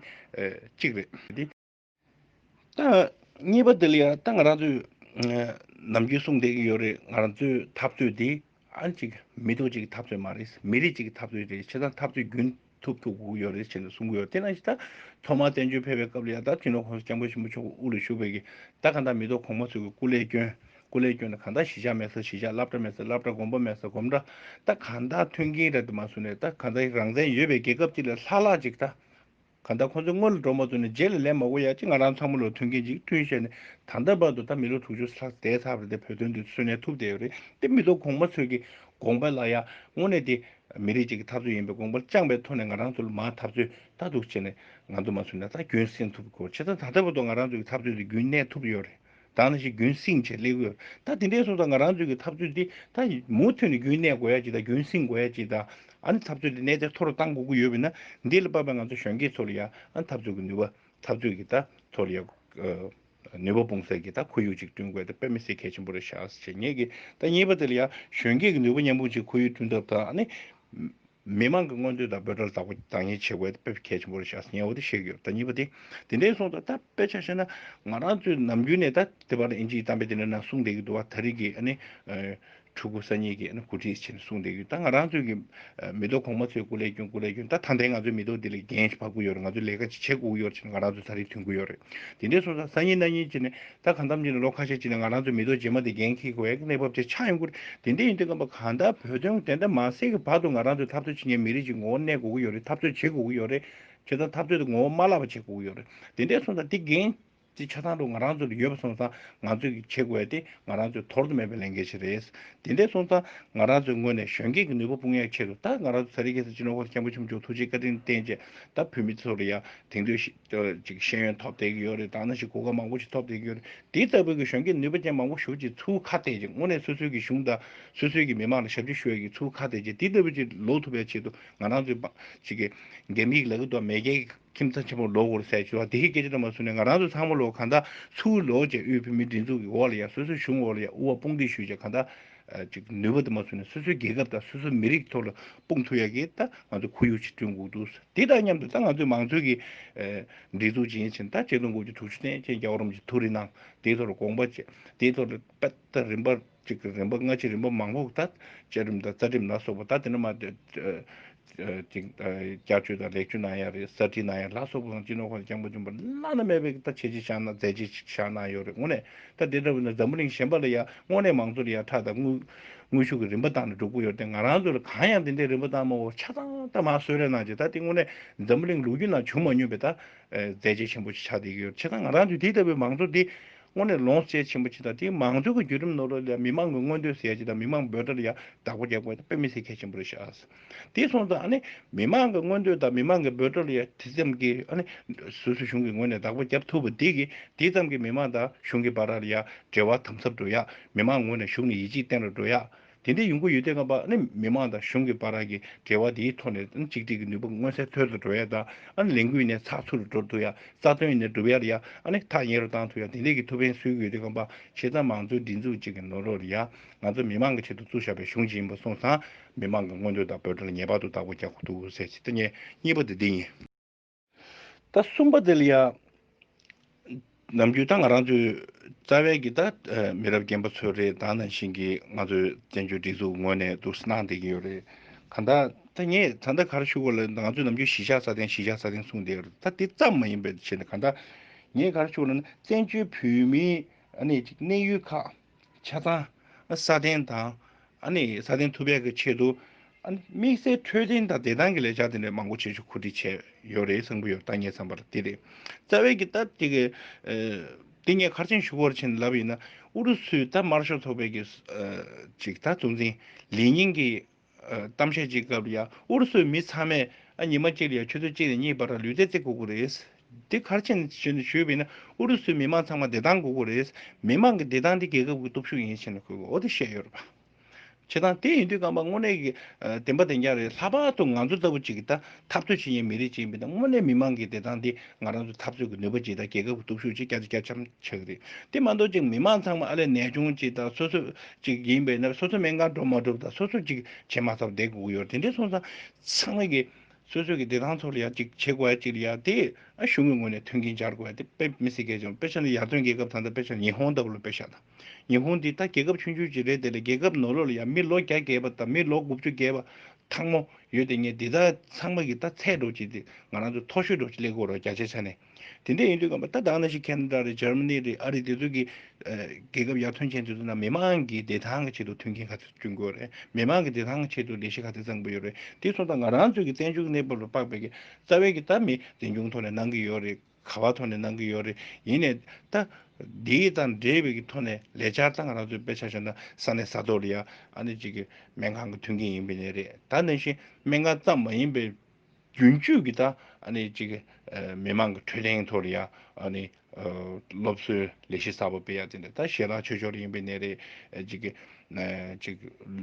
གཅིག་རེད། གཉིས་པ་འདི་ལ་ཡང་ཏང་རང་ཚོས་ནམ་རྒྱུན་གསུངས་བསྡད་ཀྱི་ཡོད་རེད་ང་ཚོའི་འཐབ་རྩོད་དེ་ཨང་གཅིག་མི་ཐུག་གཅིག་གི་འཐབ་རྩོད་མ་རེད་མི་རིགས་གཅིག་གི་འཐབ་རྩོད་རེད་ཆེ་ད་འཐབ་རྩོད་རྒྱུན་ཐུབ་ཐུབ་དགོས་ཀྱི་ཡོད་རེད་ཅེས་ལ་གསུང་གི་ཡོད་དེ་ནང་བཞིན་ད་ཐོག་མར་བཙན་བྱོལ་ཕེབས་པའི་སྐབས་ལ་ཡང་ད་དུས་ནོར་ཁོང་ས་སྐྱབས་མགོན་ཆེན་པོ་མཆོག་དབུ་ལ་བཞུགས་པའི་གི་ད་གང་དག་མི་ཐོག་གོང་མ་ཚོས་གི་སྐུ་ལས་སྐྱོན་སྐུ་ལས་སྐྱོན་ད་གང་དག་ཞི་ཆགས་མེད་ས་ཞི་ཆགས་བསླབ་གྲྭ་མེད་ས་བསླབ་གྲྭ་དགོན་པ་མེད་ས་དགོན་པ་ད་གང་དག་མཐུན་རྐྱེན་ར་དེ་མ་བཟོས་ནས་ད་གང་དག་རང་བཙན་ཡོད་པའི་རྒྱལ་ཁབ་ཅིག་ལ་ལྷག་ལྷག་ཅིག་ད་གང་ལྟར་ཁོང་ཚོའི་སྔོན་ལ་འགྲོ་མ་ཐུབ་ནས་རྗེས་ལ་ལན་མ་གོ་ཡ་ཅི་ང་རང་ཚང་མ་ལོ་མཐུན་མཁན་གཅིག་མཐུན་བཤད་ནས་ད་ལྟ་བར་དུ་ད་མི་ལོ་དྲུག་ཅུ་ལྷག་འདས་ཚར་བ་དེ་བོད་དོན་དུ་སོན་ནས་ཐུབ་བསྡད་ཡོད་རེད་དེ་མི་ལོ་གོང་མ་ཚོས་ཀྱི་དགོངས་པ་ལ་ཡ་དངོས་གནས་དེ་མི་རིགས་གཅིག་གི་འཐབ་རྩོད་ཡིན་པའི་དགོངས་པ་བཅངས་པའི་ཐོག་ནས་ང་རང་ཚོ་ལ་མ་འཐབ་རྩོད་ལྟ་སྡུག་བྱས་ནས་ང་ཚོ་མ་ཚུད་ན་ད་རྒྱུན་བསྲིང་ཐུབ་དགོས་ཕྱི་ད་ད་ལྟ་བར་དུ་ང་རང་ཚོ་གི་འཐབ་རྩོད་དེ་རྒྱུན་གནས་ཐུབ་ཡོད་རེད། དང་ནི་ཞིག་རྒྱུན་བསྲིངས་བྱེད་སླེ་གོས་ད་དེ་འདྲའི་སོ་ད་ང་རང་ཚོའི་གི་ཐབས་རྩོད་འདི་ད་མུ་མཐུད་ནི་རྒྱུན་གནས་དགོས་ཡ་ཅིག་ད་རྒྱུན་བསྲིངས་དགོས་ཡ་ཅིག་ད་ཨ་ནི་ཐབས་རྩོད་འདི་གནས་དེ་མཐོ་རུ་གཏང་དགོས་ཀི་ཡོད་པས་ན་འདི་ལ་དཔག་པའི་ང་ཚོ་གཞོན་སྐྱེས་ཚོ་ལ་ཡ་ཨ་ནི་ཐབས་རྩོད་གི་ནུས་པ་ཐབས་རྩོད་གི་ད་ཚོ་ལ་ཡ་ནུས་པ་སྤུངས་སེལ་གི་ད་ཁོར་ཡུག་ཅིག་བསྐྲུན་དགོས་ད་དཔེ་མི་སེར་གལ་ཆེན་པོ་རེད་ཤག་བྱེད་ངེས་གི་ད་གཉིས་པ་དེ་ལ་ཡ་གཞོན་སྐྱེས་གི་ནུས་པ་མཉམ་སྤུངས་ཆེད་ཁོར་ཡུག་བསྐྲུན་ཐབས་ད་ཨ་ནི། མི་མང་གི་མངོན་འདོད་དང་འབོད་སྒྲར་བདག་པོ་འདང་ངེས་བྱེད་དགོས་དེ་དཔེ་ཆ་ཆེན་པོ་རེ་བཞག་ཟིན་ངས་འོ་དེ་ཤེས་ཀྱི་ཡོད་ད་གཉིས་པ་དེ་དེ་འདྲའི་གསུངས་སྟངས་ད་དཔེ་ཆ་བཤད་ན་ང་རང་ཚོས་ནམ་རྒྱུན་ནས་ད་དེ་བར་ཨིན་ཇིའི་གཏམ་དཔེ་དེ་འདྲ་ནང་གསུངས་བསྡད་ཀྱི་འདུག་བ་ད་རིག་གི་ཨ་ནི་ཕྲུ་གུ་སང་ཉིན་གྱི་ཨ་ནི་གོ་སྒྲིག་བྱས་ནས་གསུངས་བསྡད་ཀྱི་ཡོད་ད་ང་རང་ཚོས་ཀྱི་མི་ཐོག་གོང་མ་ཚོས་སྐུ་ལས་སྐྱོན་སྐུ་ལས་སྐྱོན་ད་ད་ལྟའི་ང་ཚོའི་མི་ཐོག་འདི་ལས་འགན་ཞིག་ཕབ་ཀྱི་ཡོད་རེད་ང་ཚོས་ལས་ཀ་ཅིག་བྱེད་དགོས་ཀྱི་ཡོད་རེད་བྱས་ནས་ང་རང་ཚོས་ད་རིག་མཐུན་དགོས་ཡོད་རེད་དེ་འདྲའི་གསུངས་སྟངས་སང་ཉིན་གནངས་ཉིན་བྱས་ནས་ད་གང་ཐམས་ཅད་ནས་ལོ་ཁ་ཤས་ཅིག་ནས་ང་རང་ཚོའི་མི་རྡོ་རྗེ་མ་དེ་འགན་འཁྱེར་དགོས་ཡག་གི་གནས་བབ་དེ་ཆགས་ཡོང་ཁུལ་དེ་འདྲ་ཡིན་དུས་སྐབས་གང་ལྟར་བོད་དོན་དེ་འདྲ་མ་སེལ་གི་བར་དུ་ང་རང་ཚོས་འཐབ་རྩོད་བྱེད་མཁན་མི་རིགས་ཅིག་ངོ་བོ་གནས་དགོས་ཀྱི་ཡོད་རེད་འཐབ་རྩོད་བྱེད་དགོས་ཀྱི་ཡོད་རེད། བྱས་ཙང་འཐབ་རྩོད་དེ་ངོ་བོ་མ་བརླག་པ་བྱེད་དགོས་ཀྱི་ཡོད་རེད་དེ་འདྲས་སོང་ཙང་དེ་འགན་དེ་ཆ་ཚང་དུ་ང་རང་ཚོ་ལ་ཡོད་པ་སོང་ཙང་ང་ཚོས་གིས་བྱེད་དགོས་ཡག་དེ་ང་རང་ཚོས་དོར་དུ་མེད་པའི་ལས་འགན་ཞིག་རེད། དེ་འདྲས་སོང་ཙང་ང་རང་ཚོའི་ངོས་ནས་གཞོན་སྐྱེས་ཀྱི་ནུས་པ་སྤུངས་ཡག་ཆེད་དུ་ད་ང་རང་ཚོ་ས་རིའི་གེ་སར་སྤྱི་ནོར་ཁང་ཆེན་པོ་ཆོམ་ཆོམ་ཐུགས་རྗེའི་བཀའ་དྲིན་བརྟེན་བཅས་ད་བོད་མི་ཚོ་ལ་ཡང་དེང་དུས་དེ་ལ་ཅིག་ཤེས་ཡོན་ཐོབ་བསྡད་ཀྱི་ཡོད་རེད་ད་ནི་ཞིག་གོ་སྐབས་མང་པོ་ཞིག་ཐོབ་བསྡད་ཀྱི་ཡོད་རེད་འདི་ལྟ་བུའི་གི་གཞོན་སྐྱེས་ནུས་པ་ཅན་མང་པོ་ཞུགས་ཀྱི་ཚུལ་ཁ་བལྟས་ཀྱི་དངོས་གནས་སོ་སོའི་གི་གཞུང་དང་སོ་སོའི་གི་མི་མང་ལ་ཞབས་ཕྱི་ཞུ་ཡ་གི་ཚུལ་ཁ་བལྟས་ཀྱི་འདི་ལྟ་བུ་ཅིག་ལོག་ཐུབ་པའི་ཆེད་དུ་ང་རང་ཚོའི་པང་ཞིག་གི་རྒྱ་མིའི་གི་ལག་གི་དུ་བ་མེས་རྒྱལ་གི་ཁྱིམ་ཚང་ཆེན་མོར་ལོག་གོ་རེ་ཟེར་ཞུ་བ་འདི་ཞིག་སྐད་ཆ་ལ་མ་བཟུང་ནས་ང་རང་ཚོ་ཚང་མ་ལོག་གང་དག་ཚུལ་ལོག་བྱས་དབུས་བོད་མིའི་སྒྲིག་འཛུགས་གི་འོག་ལ་ཡང་སོ་སོའི་གཞུང་འོག་ལ་ཡང་དབུ་བ་དཔུང་སྡེ་ཞུས་བྱས་གང་དག་ཅིག་ནུས་པ་དུ་མ་བཟུང་ནས་སོ་སོའི་རྒྱལ་ཁབ་དང་སོ་སོའི་མི་རིགས་ཐོག་ལ་དཔུང་འཐུ་ཡག་གིས་ད་ང་ཚོ་ཁོར་ཡུག་ཅིག་བསྐྲུན་དགོས་འདུག་དེ་དང་མཉམ་དུ་ད་ང་ཚོའི་མང་གཙོའི་གི་སྒྲིག་འཛུགས་ཅན་བཞིན་ད་ཆེད་དོན་སྐོར་གྱི་དྲུག་ཅུ་ཐན་ཅན་རྒྱ་གོ་རིམ་གྱི་ཐུགས་རེ་གནང་དེའི་ཐོག་ལ་དགོངས་པ་བཅས་དེའི་ཐོག་ལ་དཔེ་ལྟ་རིམ་པ་ཅིག་རིམ་པ་སྔ་ཕྱི་རིམ་པ་མང་པོ་ད་བཅའ་ཁྲིམས་དང་རྩ་ཁྲིམས་ལ་སོགས་པ་ད་དེ་འདྲ་མ་ཅིག། སྐྱབས་བཅོལ་དང་ལེགས་བཅོལ་གནང་ཡག་རེད་གསར་བྲིས་གནང་ཡག་ལ་སོགས་པ་སོང་སྤྱི་ནོར་ཁང་གི་སྤྱང་པོ་ཆེན་པོ་བླ་ན་མེད་པའི་ད་བྱས་རྗེས་ཆགས་ན་མཛད་རྗེས་ཅིག་ཆགས་གནང་ཡོད་རེད་དངོས་ནས་ད་དེ་འདྲ་བོ་ནས་འཛམ་བུ་གླིང་གཞན་པ་ལ་ཡང་དངོས་གནས་མང་གཙོ་ལ་ཡང་ཁྲག་དང་དངུལ་ཤུགས་ཀྱི་རིམ་པ་བཏང་ནས་འགྲོ་ཀུ་ཡོད་དེ་ང་རང་ཚོ་ལ་གང་ཡང་དེ་འདྲའི་རིམ་པ་བཏང་མ་འོ་ཆགས་སྡང་སྡང་མ་གསོད་རེས་གནང་རྗེས་ད་དེ་དངོས་གནས་འཛམ་བུ་གླིང་ལུག་རྒྱུད་ནང་བྱུང་མ་མྱོང་པའི་ད་མཛད་རྗེས་ཆེན་པོ་ཅིག་ཆགས་བསྡད་ཀྱི་ཡོད་རེད་བྱས་ན་ང་རང་ཚོའི་དེ་ལྟ་བུའི་མང་གཙོ་འདི་དངོས་གནས་ལོངས་སྤྱད་ཆེན་པོ་ཅིག་དང་དེའི་མང་གཙོའི་ཁ་བརྒྱུད་རིམ་ནོར་ལ་ཡང་མི་མང་གི་མངོན་འདོད་ཟེར་ཡག་ཅིག་དང་མི་མང་འབོད་སྒྲ་ལ་ཡང་བདག་པོ་རྒྱག་པ་ཡང་དཔེ་མི་སྲིད་གལ་ཆེན་པོ་རེད་ཤག། དེ་སོང་ཙང་མི་མང་གི་མངོན་འདོད་དང་མི་མང་གི་འབོད་སྒྲ་ལ་དེ་ཙམ་གྱིས་སོ་སོའི་གཞུང་གི་ངོས་ནས་བདག་པོ་རྒྱབ་ཐུབ་པ་དེ་གིས་དེ་ཙམ་གྱིས་མི་མང་དང་གཞུང་གི་བར་ལ་འབྲེལ་བ་དམ་ཟབ་འགྲོ་ཡ། མི་མང་ངོས་ནས་གཞུང་ནས་ཡིད་ཆེས་བརྟན་རུ་འགྲོ་ཡ། དེ་འདྲའི་ཡོང་གི་ཡོད་དེ་ང་བ་མི་མང་དང་གཞུང་གི་བར་གྱི་འབྲེལ་བ་དེའི་ཐོག་ནས་གཅིག་སྒྲིལ་གྱི་ནུས་པ་མངོན་གསལ་མཐོལ་དུ་འགྲོ་ཡ་དང་ལས་འགུལ་ནས་ཚགས་ཚུད་རུ་འགྲོ་ཐུབ་ཡ་རྩ་དོན་ནས་སྒྲུབ་ཡ་ཐག་ཉེ་རུ་བཏང་ཐུབ་ཡ་དེ་འདྲའི་གྱི་ཐུགས་ཕན་གསོས་གི་ཡོད་དེ་ང་བ་ཕྱི་ཙང་མང་གཙོའི་སྒྲིག་འཛུགས་གཅིག་གི་ནོར་རོ་ཡ། ང་ཚོ་མི་མང་གི་ཆེད་དུ་བཙུགས་བཞག་པའི་གཞུང་གཅིག་ཡིན་པ་སོང་ཙང། མི་དམངས་ཀྱི་མངོན་འདོད་དང་འབོད་སྒྲ་ལ་ངེས་པར་དུ་བདག་པོ་རྒྱག་དགོས་འདུག་ཟེར་གྱི་ལྟ་ངན་གཉིས་པ་དེ་འདི་ཡིན། ད་གསུམ་པ་དེ་ལ་ཡང་ནམ་རྒྱུན་ད་ང་རང་ཚོའི་རྩ་བའི་གི་ད་མི་རབས་རྒན་པ་ཚོའི་རེད་ད་ནང་བཞིན་གྱི་ང་ཚོའི་བཙན་བྱོལ་སྒྲིག་འཛུགས་ངོས་ནས་དུར་སྣང་བསྡད་ཀྱི་ཡོད་རེད་གང་ལྟར་ད་ངས་ད་ལྟ་གར་ཞུགས་ལ་ང་ཚོས་ནམ་རྒྱུན་གཞིས་ཆགས་ས་སྟེང་གཞིས་ཆགས་ས་སྟེང་གསུངས་བསྡད་ཀྱི་རེད་ད་དེ་ཙམ་མ་ཡིན་པའི་ཆེད་ནས་གང་ལྟར་ངས་གར་ཞུགས་ལ་ནི་བཙན་བྱོལ་བོད་མིའི་གནས་ཡུལ་ཁག་ཆ་ཚང། སྲ་བརྟན་དང། སྲ་བརྟན་ཐུབ་པའི་ཆེད་དུ། དམིགས་བསལ་འཕྲོད་བསྟེན་དང་བདེ་ཐང་གི་ལས་འཆར་དེ་འདྲ་མང་པོ་བྱེད་རྒྱུ་གོ་སྒྲིག་བྱས་ཡོད་རེད་གསུངས་ཀྱི་ཡོད་ལྟ་ངས་བསམ་པར་དེ་རེད། རྩ་བའི་གི་ད་དེ་གི། དེ་ངས་མཁར་ཆེན་ཞུ་སྒོར་ཕྱིན་ལབ་ཡིན་ན། ཨུ་རུ་སུའི་ད་དམར་ཤོག་ཚོགས་པའི་གི། ཅིག་ད་གཙོ་འཛིན་ལི་ཉིང་གི། གཏམ་བཤད་ཅིག་སྐབས་ཡ་ཨུ་རུ་སུའི་མི་ཚང་མས་ཨ་ཉི་མ་གཅིག་ལ་ཡ་ཆུ་ཚོད་གཅིག་ནས་གཉིས་བར་ལུས་རྩེ་རྩེ་སྒུག་གི་རེད། འདི་གར་ཕྱིན་ནས་ཞུས་པས་ན་ཨུ་རུ་སུའི་མི་མང་ཚང་མ་བདེ་ཐང་སྒུག་གི་རེད། མི་མང་གི་བདེ་ཐང་འདི་རྒྱལ་ཁབ་ཀྱི་སྟོབས་ཤུགས་ཡིན་ཞེས་ན་ཁོས་གོ་བདེ་བཤད་ཡོད་རེད། བྱེད་སྟངས་དེ་ཡིན་དུས་རྐང་པ་དངོས་གནས་ཀྱི་བདེན་པ་བདེན་རྐྱང་རེད་ལྷག་པར་དུ་ང་ཚོ་ལྟ་བུ་ཅིག་གིས་ད་འཐབ་རྩོད་བྱེད་མཁན་མི་རིགས་གཅིག་མིན་ན་དངོས་གནས་མི་མང་གི་བདེ་ཐང་དེ་ང་རང་ཚོའི་འཐབ་རྩོད་ཀྱི་ནུས་པ་གཅིག་དང་རྒྱལ་ཁབ་ཀྱི་སྟོབས་ཤུགས་གཅིག་སྐྱ་ཆ་སྐྱ་ཆམ་ཆག་གི་རེད། དེ་མ་འདོར་ཅིག་མི་མང་ཚང་མ་ཨ་ལས་ནད་ཆུང་གཅིག་དང་སོ་སོ་གཅིག་ཡིན་པས་ན་སོ་སོ་སྨན་ཁང་འགྲོ་མ་གྲུབ་དང་སོ་སོ་གཅིག་བྱེད་མ་ཐབས་བསྡད་དགོས་ཀྱི་ཡོད་རེད་དེ་འདྲའི་སོང་ཙང་ཚང་མ་གི་སོ་སོའི་གི་བདེ་ཐང་ཚོར་ལ་ཡང་གཅིག་བྱེད་དགོས་ཡ་གཅིག་ལ་ཡང་དེ་ཨ་གཞུང་གི་ངོས་ནས་མཐུན་རྐྱེན་སྦྱར་དགོས་ཡ་དེ་དཔེ་མི་སྲིད་སྐད་ཅིག་དཔེ་ཆ་ནི་ཡར་ཐོན་རྒྱལ་ཁབ་དང་དང་དཔེ་ཆ་ནི་ཉི་ཧོང་ལྟ་བུ་ལ་དཔེ་ཆ་དང། ཉི་ཧོང་འདི་ད་རྒྱལ་ཁབ་ཆུང་ཆུང་ཅིག་རེད་དེ་ལ་རྒྱལ་ཁབ་ནོར་ལོག་ལ་ཡང་མི་ལོ་བརྒྱ་བརྒལ་བ་དང་མི་ལོ་དགུ་བཅུ་བརྒལ་བ་ཐང་མོ་ཡོད་དེ་ངས་འདི་དག་ཚང་མ་གི་ད་ཚད་འགྲོ་ཅིག་དེ་ང་རང་ཚོ་མཐོ་ཤོས་འགྲོ་ཅིག་ཀླད་ཀོར་རོ་རྒྱ་ཆེ་ཆ་ནས་དེ་འད་ཡིན་དུས་ང་མ་ད་དང་ན་ཞིག་ཁན་རྡ་རེད་འཇར་མ་ནི་རེད་ཨ་རིག་དེ་ཚོ་གི་རྒྱལ་ཁབ་ཡར་ཐོན་ཆེན་དེ་ཚོ་ན་མི་མང་གི་བདེ་ཐང་གི་ཆེད་དུ་མཐུན་རྐྱེན་ག་ཚོད་བསྐྲུན་དགོས་རེད་མི་མང་གི་བདེ་ཐང་གི་ཆེད་དུ་ལས་གཞི་ག་ཚད་བརྩམ་དགོས་ཡོད་རེད་དེ་ཚོ་ད་ང་རང་ཚོ་གི་བཙན་བྱོལ་གི་གནས་བབ་ལ་དཔག་པའི་གི་རྩ་བའི་གི་ད་མི་འཛིན་སྐྱོང་ཐོག་ནས་གནང་གི་ཡོད་རེད། ག་བ་ཐོག་ནས་གནང་གི་ཡོད་རེད་ཡིན་ནས་ད། འདིའི་དང་འབྲེལ་བའི་ཀྱི་ཐོག་ནས་ལས་འཆར་དང་རང་ཚོའི་དཔེ་ཆ་ཤོད་ན་ས་ནས་ས་ཐོག་རེད་ཡ་ཨ་ནི་ཅིག་གི་སྨན་ཁང་གི་མཐུན་རྐྱེན་ཡིན་པའི་ནས་རེད་ད་ནང་བཞིན་སྨན་ཁང་ཙམ་མ་ཡིན་པའི། རྒྱུན་སྤྱོད་ཀྱི་ད་ཨ་ནི་ཅིག་གི་མི་མང་གི་འཕྲོད་བསྟེན་ཐོག་རེད་ཡ་ཨ་ནི། སློབ་གསོའི་ལས་གཞི་གསར་པ་སྤེལ་ཡ་དེ་འདྲ་ད་ཞེ་དྲག་ཆོས་ཕྱོགས་རེ་ཡིན་པའི་ནས་རེད་ཅིག་གི། ཅིག་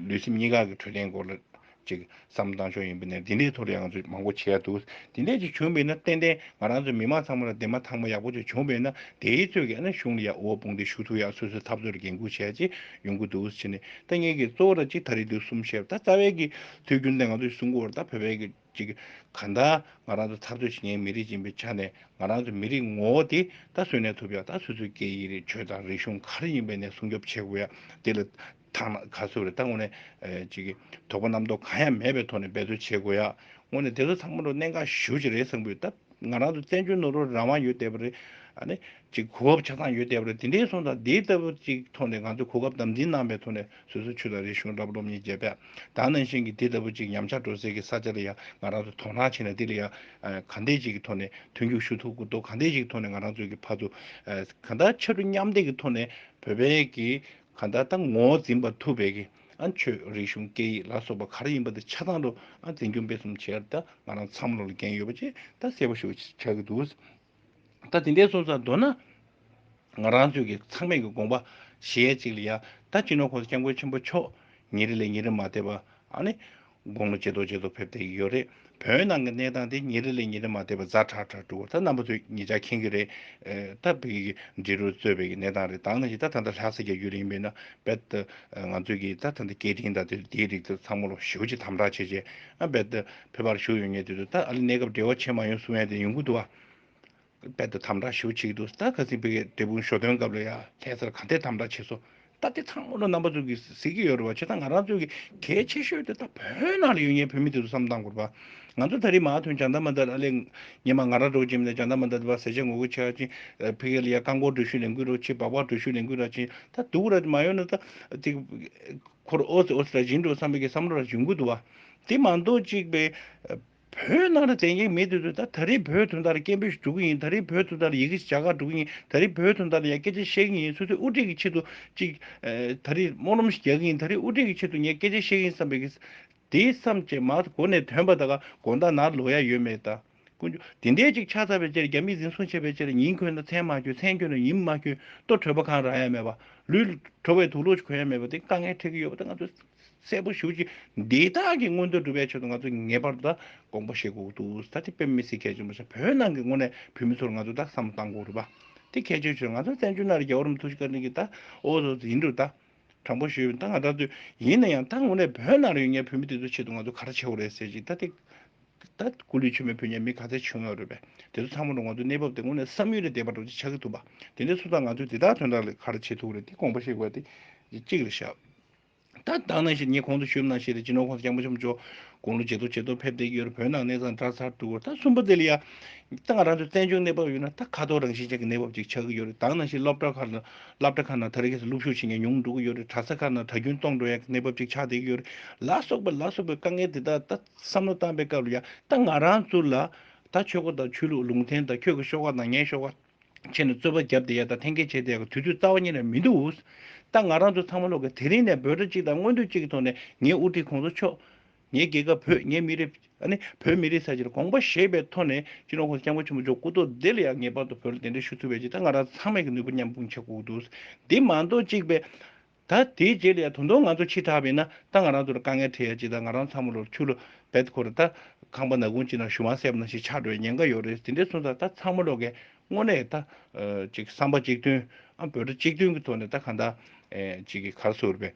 ལུས་སེམས་གཉིས་ཀ་གི་འཕྲོད་བསྟེན་སྐོར་ལ། ཅིག་བསམ་བཏང་ཆོག་ཡིན་པ་ནས་འདི་འདྲའི་ཐོག་རང་ཚོས་མང་པོ་བྱས་འདུག་དེ་འདྲས་ཅིག་བྱུང་བས་ན་ཏན་ཏན་ང་རང་ཚོ་མི་མང་ཚང་མ་ལ་འདེམས་མ་ཐག་མ་ཡག་པོ་ཅིག་བྱུང་བས་ན་དེའི་ཚོད་ཀྱིས་ཨ་ནི་གཞུང་ལ་ཡག་འུར་བ་སྤུངས་ཏེ་ཞུ་ཐུག་ཡག་སོ་སོའི་འཐབ་རྩོད་ལ་འགན་ཁུར་བྱས་རྗེས་ཡོང་གི་འདུག་ཕྱི་ནས་ད་ངེད་ཀྱིས་གཙོ་བོ་ད་གཅིག་ད་རེ་དུས་གསུམ་བཤད་པ་ད་རྩ་བའི་གི་དུས་རྒྱུན་ད་ང་ཚོ་ཡི་སྲུང་འཁོར་བར་ད་བོད་པའི་གི་ཅིག་ག་ད་ང་རང་ཚོ་འཐབ་རྩོད་བྱེད་མཁན་མི་རིགས་ཅན་པའི་ཆ་ནས་ང་རང་ཚོ་མི་རིགས་ངོ་བོ་དེ་ད་བཟོས་ནས་ཐུབ་ཡག་ད་སོ་སོའི་སྐད་ཡིག་རིག་ཆོས་དང་རིག་གཞུང་ག་རེ་ཡིན་པའི་ནས་སྲུང་སྐྱོབ་བྱེད་དགོས་ཡག་དེ་ལ་དག་ན་ག་ཚོད་རེ་ད་ངོ་ནས་ཅིག་དོགས་པ་རྣམ་རྟོག་གང་ཡང་མེད་པའི་ཐོག་ནས་འབད་བརྩོན་བྱེད་དགོས་ཡ། ངོ་ནས་དེ་ཚོ་ཚང་མ་རུ་གནས་འགའ་ཞུ་ཅིག་རེད་བསམ་གི་ཡོད། ད་ང་རང་ཚོ་བཙན་བྱོལ་ནོར་བུར་རང་དབང་ཡོད་བསྡད་པ་རེད། ཨ་ནི། ཅིག་གོ་བབ་ཆ་ཚང་ཡོད་བསྡད་པ་རེད་དེ་འདྲའི་སོང་ཙང་དེའི་ལྟ་བུ་ཅིག་ཐོག་ནས་ང་ཚོས་གོ་སྐབས་དམ་འཛིན་གནང་པའི་ཐོག་ནས་བཟོད་གསོལ་ཆུ་དང་རི་གཞུང་འདྲ་པོ་སློབ་གཉེར་བྱས་པས་ད་ནང་བཞིན་གྱི་དེ་ལྟ་བུ་ཅིག་ཉམས་ཆག་འགྲོ་སའི་གི་ས་ཆ་ལ་ཡང་ང་རང་ཚོས་དོ་སྣང་བྱས་ནས་དེ་ལ་ཡང་གང་འད་ཅིག་གི་ཐོག་ནས་མཐུན་འགྱུར་ཞུ་ཐུབ་གི་འདུག་གང་འད་ཅིག་གི་ཐོག་ནས་ང་རང་ཚོའི་གི་ཕ་ཚོ་གང་འད་ཆ་ལུ་མཉམ་འདེགས་གི་ཐོག་ནས་བོད་པའི་གི་གང་ལྟར་ད་ངོ་བོ་འཛིན་པར་ཐུབ་པའི་ཀྱི་ཨ་ཆོས་རིག་གཞུང་སྐད་ཡིག་ལ་སོགས་པ་ག་རེ་ཡིན་པ་དེ་ཆ་ཚང་དུ་ཨ་འཛིན་སྐྱོང་སྤེལ་གསུམ་བྱས་ད་ང་རང་ཚང་མ་ལོག་ལ་འགན་ཡོད་པ་བཅས་ད་གསལ་པོ་ཞུ་བ་ཆགས་ཀྱི་འདུག་ད་དེ་འདྲའི་སོང་ཙང་མདོར་ན་ང་རང་ཚོའི་ཀྱི་ཚང་མས་ཀྱི་དགོངས་པ་གཞས་གཅིག་ལ་ཡང་ད་སྤྱི་ནོར་གོང་ས་སྐྱབས་མགོན་ཆེན་པོ་མཆོག་ཉིན་རེ་ལས་ཉིན་རེ་མ་འདས་པ་ཨ་ནི། དགུང་ལོ་ཇེ་མཐོ་ཇེ་མཐོ་ཕེབས་བསྡད་ཀྱི་ཡོད་རེད། བོད་ནང་གི་གནས་སྟངས་དེ་ཉིན་རེ་ལས་ཉིན་རེ་མ་བལྟས་པར་རྫ་ཁྲག་ཁྲག་འགྲོ་བར་ད་རྣམ་པ་ཚོས་ངེད་ཅག་མཁྱེན་གྱི་རེད། ད་བོད་ཀྱི་འབྲི་རུ་གཙོས་བོད་ཀྱི་གནས་སྟངས་རེ་དྭངས་ན་ཡི་ད་ད་ལྟ་ལྷ་ས་རྒྱ་ཁྱུ་རེ་ཡིན་པས་ན་རྦད་དེ་ང་ཚོས་ཀྱིས་ད་ད་ལྟ་སྐད་འཕྲིན་དང་དེ་འདིའི་རིགས་དེ་ཚང་མ་ལོགས་ཞུགས་ཀྱིས་དམ་དྲག་བྱས་རྗེས་རྦད་དེ་ཕེབས་པར་ཞུགས་ཡོང་ངེས་དུས་དུ་ད་ཨ་ལི་གནས་སྐབས་བྲེལ་བ་ཆེ་མ་ཡོང་གསུང་ཡ་དེ་ཡོང་གི་འདུག་ཨ། དཔལ་དུ་དམ་བསྒྲགས་ཞུ་ཆེད་དུ་སྟག་ཁ་སྲིན་བུ་ཡི་འབྲས་སྤུངས་ཞོ་སྟོན་སྐབས་ལ་ཡང་ལྷས་སར་གང་ཐད་དམ་བསྒྲགས་བྱས་སོ། ད་ལྟའི་ཚང་མ་ལོ་རྣམ་པ་ཙུག་གིས་གཟིགས་ཀྱི་ཡོད་རེད་བ་བྱས་ད་ང་རང་ཚོ་གི་གལ་ཆེ་ཤོས་དེ་ད་བོད་ནང་ལ་ཡོད་ངེས་བོད་མི་དེ་ཚོ་བསམ་སྟངས་དགོས་རེད་བ། ང་ཚོ་ད་རིས་མ་ཐོན་བྱང་ད་མ་འདར་ཨ་ལས་ངེས་མ་ང་རང་གྲོགས་ཅིག་མེད་ད་བྱང་ད་མ་འདར་དེ་བ་ཟེར་བྱས་ངོ་རྒོལ་བྱས་ཧ་ཅིང་ཕི་གེ་ལ་ཡ་རྐང་འཁོར་འགྲུལ་བཞུད་ལེན་དགོས་རོགས་ཆེ་བག་བག་འགྲུལ་བཞུད་ལེན་དགོས་ར་ཅིང་ད་སྡུག་ར་དེ་མ་ཡོང་ན་ད་དེ་འཁོར་ཨོ་སི་ཨོ་སི་ར་བཞིན་འགྲོ་བསམ་པའི་གི་བསམ་བློ་ར་བཞིན་དགོས་འདུག་བ། དེ་མ་འདོག་ཅིག་བེ། བོད་ནང་རེ་བསྟན་གྱི་མི་དེ་ཚོས་ད་ད་རེས་བོད་དོན་ཐར་སྐད་འབོད་ཞིག་སྒྲོག་གི་ཡིན་ད་རེས་བོད་དོན་ཐར་ཡི་གེ་ཞིག་བྱ་དགའ་སྒྲོག་གི་ཡིན་ད་རེས་བོད་དོན་ཐར་ཡང་སྐད་ཆ་བཤད་གི་ཡིན་སོ་སོས་དབུ་འཁྲིད་ཀྱི་ཆེད་དུ་ཅིག་ད་རེས་སྨོན་ལམ་ཞིག་རྒྱག་གི་ཡིན་ད་རེས་དབུ་འཁྲིད་ཀྱི་ཆེད་དུ་ངས་སྐད་ཆ་བཤད་གི་ཡིན་བསམ་པའི་དེ་བསམ་བྱས་མ་གོ་ནས་དོན་པ་དག་དགོངས་དག་ནར་ལོག་ཡ་ཡོད་མེད་ད་ཀུན་ཆོ་དེ་འདྲས་ཅིག་ཆགས་ཚར་བའི་ཕྱིར་རྒྱ་མིས་འཛིན་བཟུང་བྱས་པའི་ཕྱིར་ཉིན་འཁོད་ན་མཚན་མ་གྱོན་མཚན་གྱོན་ན་ཉིན་མ་གྱོན་ལྟོ་གྲོད་པ་གང་རག་ཡ་མེད་པ་ལུས་གྲོ་བའི་དུག་ལོག་ཅིག་གོན་ཡ་མེད་པ་དེ་དཀའ་ངལ་འཕྲད་ཀྱི་ཡོད་པ་ད་ང་ཚོས་གསལ་པོ་ཞུ་ཅིག་འདི་དག་གི་མངོན་འདོད་འགྲུབ་པའི་ཆེད་དུ་ང་ཚོས་ངེས་པར་དུ་ད་དགོངས་པ་བཞེས་དགོས་འདུག་ད་དེ་དཔེ་མི་སྲིད་གལ་ཆེན་པོ་ཞིག་བོད་ནང་གི་དངོས་གནས་བོད་མི་ཚོར་ང་ཚོས་ད་བསམ་བློ་གཏང་དགོས་རུ་བ་དེ་གལ་ཆེའི་ཆོས་ང་ཚོ་བཙན་བྱོལ་ནང་རེ་རྒྱལ་བོ་རམ་ཐུགས་རྗེ་བཀའ་དྲིན་གྱིས་ད་ཨོ་ཟོ་ཟོ་ཡིན་འགྲོ་ད་དྲང་པོ་ཞུས་ད་ང་ད་ཚོས་ཡིན་ན་ཡང་ད་དངོས་གནས་བོད་ནང་རེ་ཡོད་ངའི་བོད་མི་དེ་ཚོའི་ཆེད་དུ་ང་ཚོ་ག་རེ་བྱེད་འོ་རེད་ཟེར་ཅིག་ད་དེ་ད་སྐུ་ལུས་མཆོད་མེ་ཕུལ་ཉེས་མི་ག་ཚད་བྱུང་ཡོད་རུ་བས་དེ་ཚོ་ཚང་མ་འགྲོ་ང་ཚོའི་གནས་བབ་དེ་དངོས་གནས་བསམ་ཡུལ་ལས་འདས་པ་འགྲོ་ཅིག་ཆགས་ཀྱི་འདུག་བ་དེ་འདྲའི་སུ་དང་ང་ཚོས་དེ་དག་དོན་དག་ལས་ག་རེ་བྱེད་ཐུག་རེད་དེ་དགོངས་པ་བཞེས་དགོས་བ་དེ་གཅིག་རེད་ཞབས། ད་བདག་ནང་ཞིག་ངེད་གོང་དུ་བཞུད་ན་ཞེས་ཏེ་སྤྱི་ནོར་ཁོང་ཚོ་རྐྱང་པ་ཆུམ་ཆུམ། དགུང་ལོ་ཇེ་མཐོ་ཇེ་མཐོར་ཕེབས་བསྡད་ཀྱི་ཡོད་རུང་བོད་ནང་གནས་ཚང་འདྲ་ཚར་འདུག་གོ་ད་གསུམ་པོ་དེ་ལ་ཡང། ད་ང་རང་ཚོའི་བཙན་བྱོལ་གནས་བབ་ཡོད་ན་ད་ཁ་དོག་རང་བཞིན་ཅན་གྱི་གནས་བབ་ཅིག་ཆགས་ཀྱི་ཡོད་རེད་བདག་ནང་ཞིག་སློབ་གྲྭ་ཁག་ལ་སླབ་གྲྭ་ཁག་ནང་ད་རེས་ཁེ་སི་སློབ་ཞུགས་བྱེད་མཁན་ཉུང་འགྲོ་གི་ཡོད་རེད་གྲྭ་ས་ཁག་ནང་གྲྭ་རྒྱུན་གཏོང་འགྲོ་ཡག་གི་གནས་བབ་ཅིག་ཆགས་བསྡད་ཀྱི་ཡོད་རེད་ལ་སོགས་པའི་ལ་སོགས་པའི་དཀའ་ངལ་དེ་དག་ད་བསམ་བློ་བཏང་པའི་སྐབས་ལ་ཡང་ད་ང་རང་ཚོ་ལ་ད་ཆོས་སྒོ་དང་ཆོས་ལུགས་ལུང་བསྟན་དང་ཁྱོད་ཀྱི་ཤོག་ཁག་དང་ངའི་ཤོག་ཁག། ཁྱེད་ནི་རྩོད་པ་བརྒྱབ་བསྡད་ཡག་དང་འཐེན་འཁྱེར་བྱས་བསྡད་ཡག་དུས་ཚོད་རྩ་བ་ཉིད་ལས་མི་འདུག་ད་ང་རང་ཚོ་ཚང་མ་ལོག་གི་དེ་རིང་ནས་འབོད་སྒྲ་གཅིག་དང་མངོན་འདོད་གཅིག་གི་ཐོག་ནས་ངའི་དབུ་ཁྲིད་ཁོང་ཚོ་མཆོག་ངའི་རྒྱལ་ཁབ་བོད་ངའི་མི་རིགས་ཨ་ནི་བོད་མི་རིགས་ས་ཆེན་དགོངས་པ་ཞེས་པའི་ཐོག་ནས་སྤྱི་ནོར་ཁོང་ཚོ་སྐྱབས་མགོན་ཆེན་པོ་མཆོག་སྐུ་ཐོག་བདེ་ལ་ཡག་ངེས་པར་དུ་བོད་ལ་གདན་འདྲེན་ཞུ་ཐུབ་པའི་ཆེད་ད་ང་རང་ཚང་མས་ཀྱི་ནུས་པ་མཉམ་སྤུངས་བྱ་དགོས་འདུག་འདི་མ་གཏོགས་གཅིག་པའི་ད་དེའི་རྗེས་ལས་ད་དུང་ང་ཚོ་འཆི་དྲགས་པས་ན་ད་ང་རང་ཚོར་དཀའ་ངལ་འཕྲད་ཡ་ཅིག་ད་ང་རང་ཚང་མ་ལོར་ཆུ་ལོ་བེད་ཁོ་རེ་ད་ཁང་པ་ན་གུང་ཅིག་ན་གཞུ་བང་སེབ་ན་ཞིག་ཆགས་འགྲོ་ཡ་ཉེན་ཁ་ཡོད་རེད་དེ་འདྲས་གསུངས་ད་ད་ཚང་མ་ལོ་གའི་སྔོན་ནས་ད་ཅིག་བསམ་པ་གཅིག་མཐུན་ཨ་འབོད་སྒྲ་གཅིག་མཐུན་གི་ཐོག་ནས་ད་གང་ད་ཅིག་གི་གར་སོ་རེ་བས།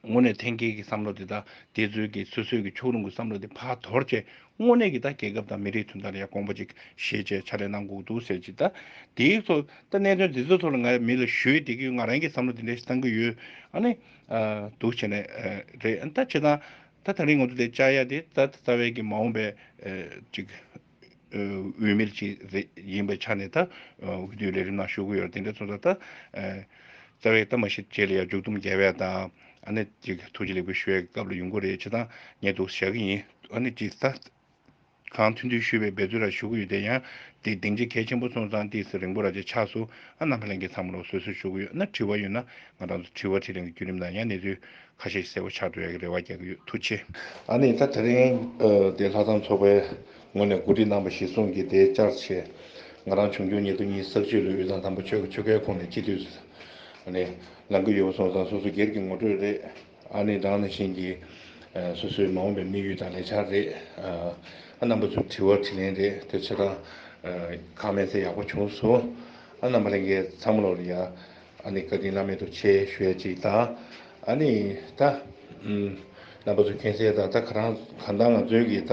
སྔོན་ནས་འཐེན་འཁྱེར་གི་བསམ་བློ་དེ་ད་དེ་ཚོའི་གི་སོ་སོའི་གི་ཕྱོགས་ལྷུང་གི་བསམ་བློ་དེ་བག་དོར་བྱས་དངོས་གནས་ཀྱི་ད་རྒྱལ་ཁབ་དང་མི་རིགས་དོན་དག་ལ་ཡང་དགོངས་པ་ཅིག་བཞེས་ཅེས་ཕྱག་ལས་གནང་འགུག་འདུག་ཟེར་གྱི་ད་དེའི་ཐོག་ད་གནད་དོན་འདི་ཚོའི་ཐོག་ལ་ང་མི་ལ་ཞུ་ཡི་འདི་གི་ང་རང་གི་བསམ་བློ་འདི་འདྲ་ཞིག་བཏང་གི་ཡོད་ཨ་ནི་འདུག་བྱས་ནས་རེད་ད་བྱས་ཙང་ད་ད་རིང་ང་ཚོ་དེ་བཅའ་ཡ་དེ་ད་རྩ་བའི་གི་མ་འོངས་པའི་ཅིག་འོས་མིར་ཅིག་རེད་ཡིན་པའི་ཆ་ནས་ད་འོས་བསྡུའི་ལས་རིམ་ནང་ཞུགས་གི་ཡོད་རེད་འདི་འདྲ་ཚོ་ད་རྩ་བའི་གཏམ་མ་ཞིག་བྱས་ལ་ཡང་མཇུག་སྡོམ་རྒྱལ་བས་དང། ཨ་ནེ་ཅིག་ཐུགས་རྗེ་ལེགས་པོ་ཞུ་བའི་སྐབས་ལ་ཡོང་གི་རེད་ཅེས་ཐང་ཉེ་འདུག་བཞག་གི་ཡིན་ཨ་ནེ་ཅིག་ད་གང་ཐུགས་འདུན་ཞུས་པའི་འབད་རྩོལ་ར་ཞུ་གི་ཡོད་དེ་ཡང་དེ་གདེང་འཇེ་གལ་ཆེན་པོ་སོང་ཙང་དེ་སི་རིང་པོ་ར་ཅེ་ཆགས་སོ་ཨ་ནམ་ལྷན་གིས་ཐང་མོ་ལོག་སོད་སོད་ཞུ་གི་ཡོད་ན་དྲི་བ་ཡོད་ན་ང་རང་ཚོ་དྲི་བ་དྲིས་ལན་གི་བརྒྱུད་རིམ་དང་ཡང་གནས་ཚུལ་ཁ་ཤས་གསལ་བོ་ཆགས་འགྲོ་ཡག་གི་རེ་བ་རྒྱག་གི་ཡོད་ཐུགས་ཆེ། ཨ་ནེ་ད་ད་རིང་དེ་ལྷ་ཚང་ཚོགས་པའི་ངོས་ནས་གོ་སྒྲིག་གནང་པ་ཞིག་གསུངས་གི་དེ་བཅར་ཆེད་ང་རང་བྱུང་འགྱུར་ཉེ་དུ་གཉིས་བསགས་བཅོས་ལོའི་དབུས་གཙང་དང་པོ་ཆོལ་ཁའི་ཁོངས་ནས་སྤྱི་འཐུས་སུ་ཨ་ནེ་ལང་གི་ཡོད་པ་སོང་ཙང་སོ་སོ་སྒེར་གྱི་ངོ་སྤྲོད་རེད། ཨ་ནེ་དང་ཨ་ནེ་བཞིན་གྱི་སོ་སོའི་མ་འོངས་པའི་དམིགས་ཡུལ་དང་ལས་འཆར་རེད། ཨ་རྣམ་པ་ཚོའི་དྲི་བ་དྲི་ལན་རེད་དེ་ཚོད་དང། ཁག་མེད་ཚད་ཡག་པོ་བྱུང་སོང། ཨ་རྣམ་པ་ལས་འགལ་ཚང་མ་ལོག་རེད་ཡ། ཨ་ནེ་བཀའ་དྲིན་བླ་མེད་དུ་ཆེ་ཞོད་ཅིག་དང། ཨ་ནེ། ད། རྣམ་པ་ཚོ་མཁྱེན་གསལ་དང་ད་ག་རང་གང་དང་ང་ཚོའི་གི་ད་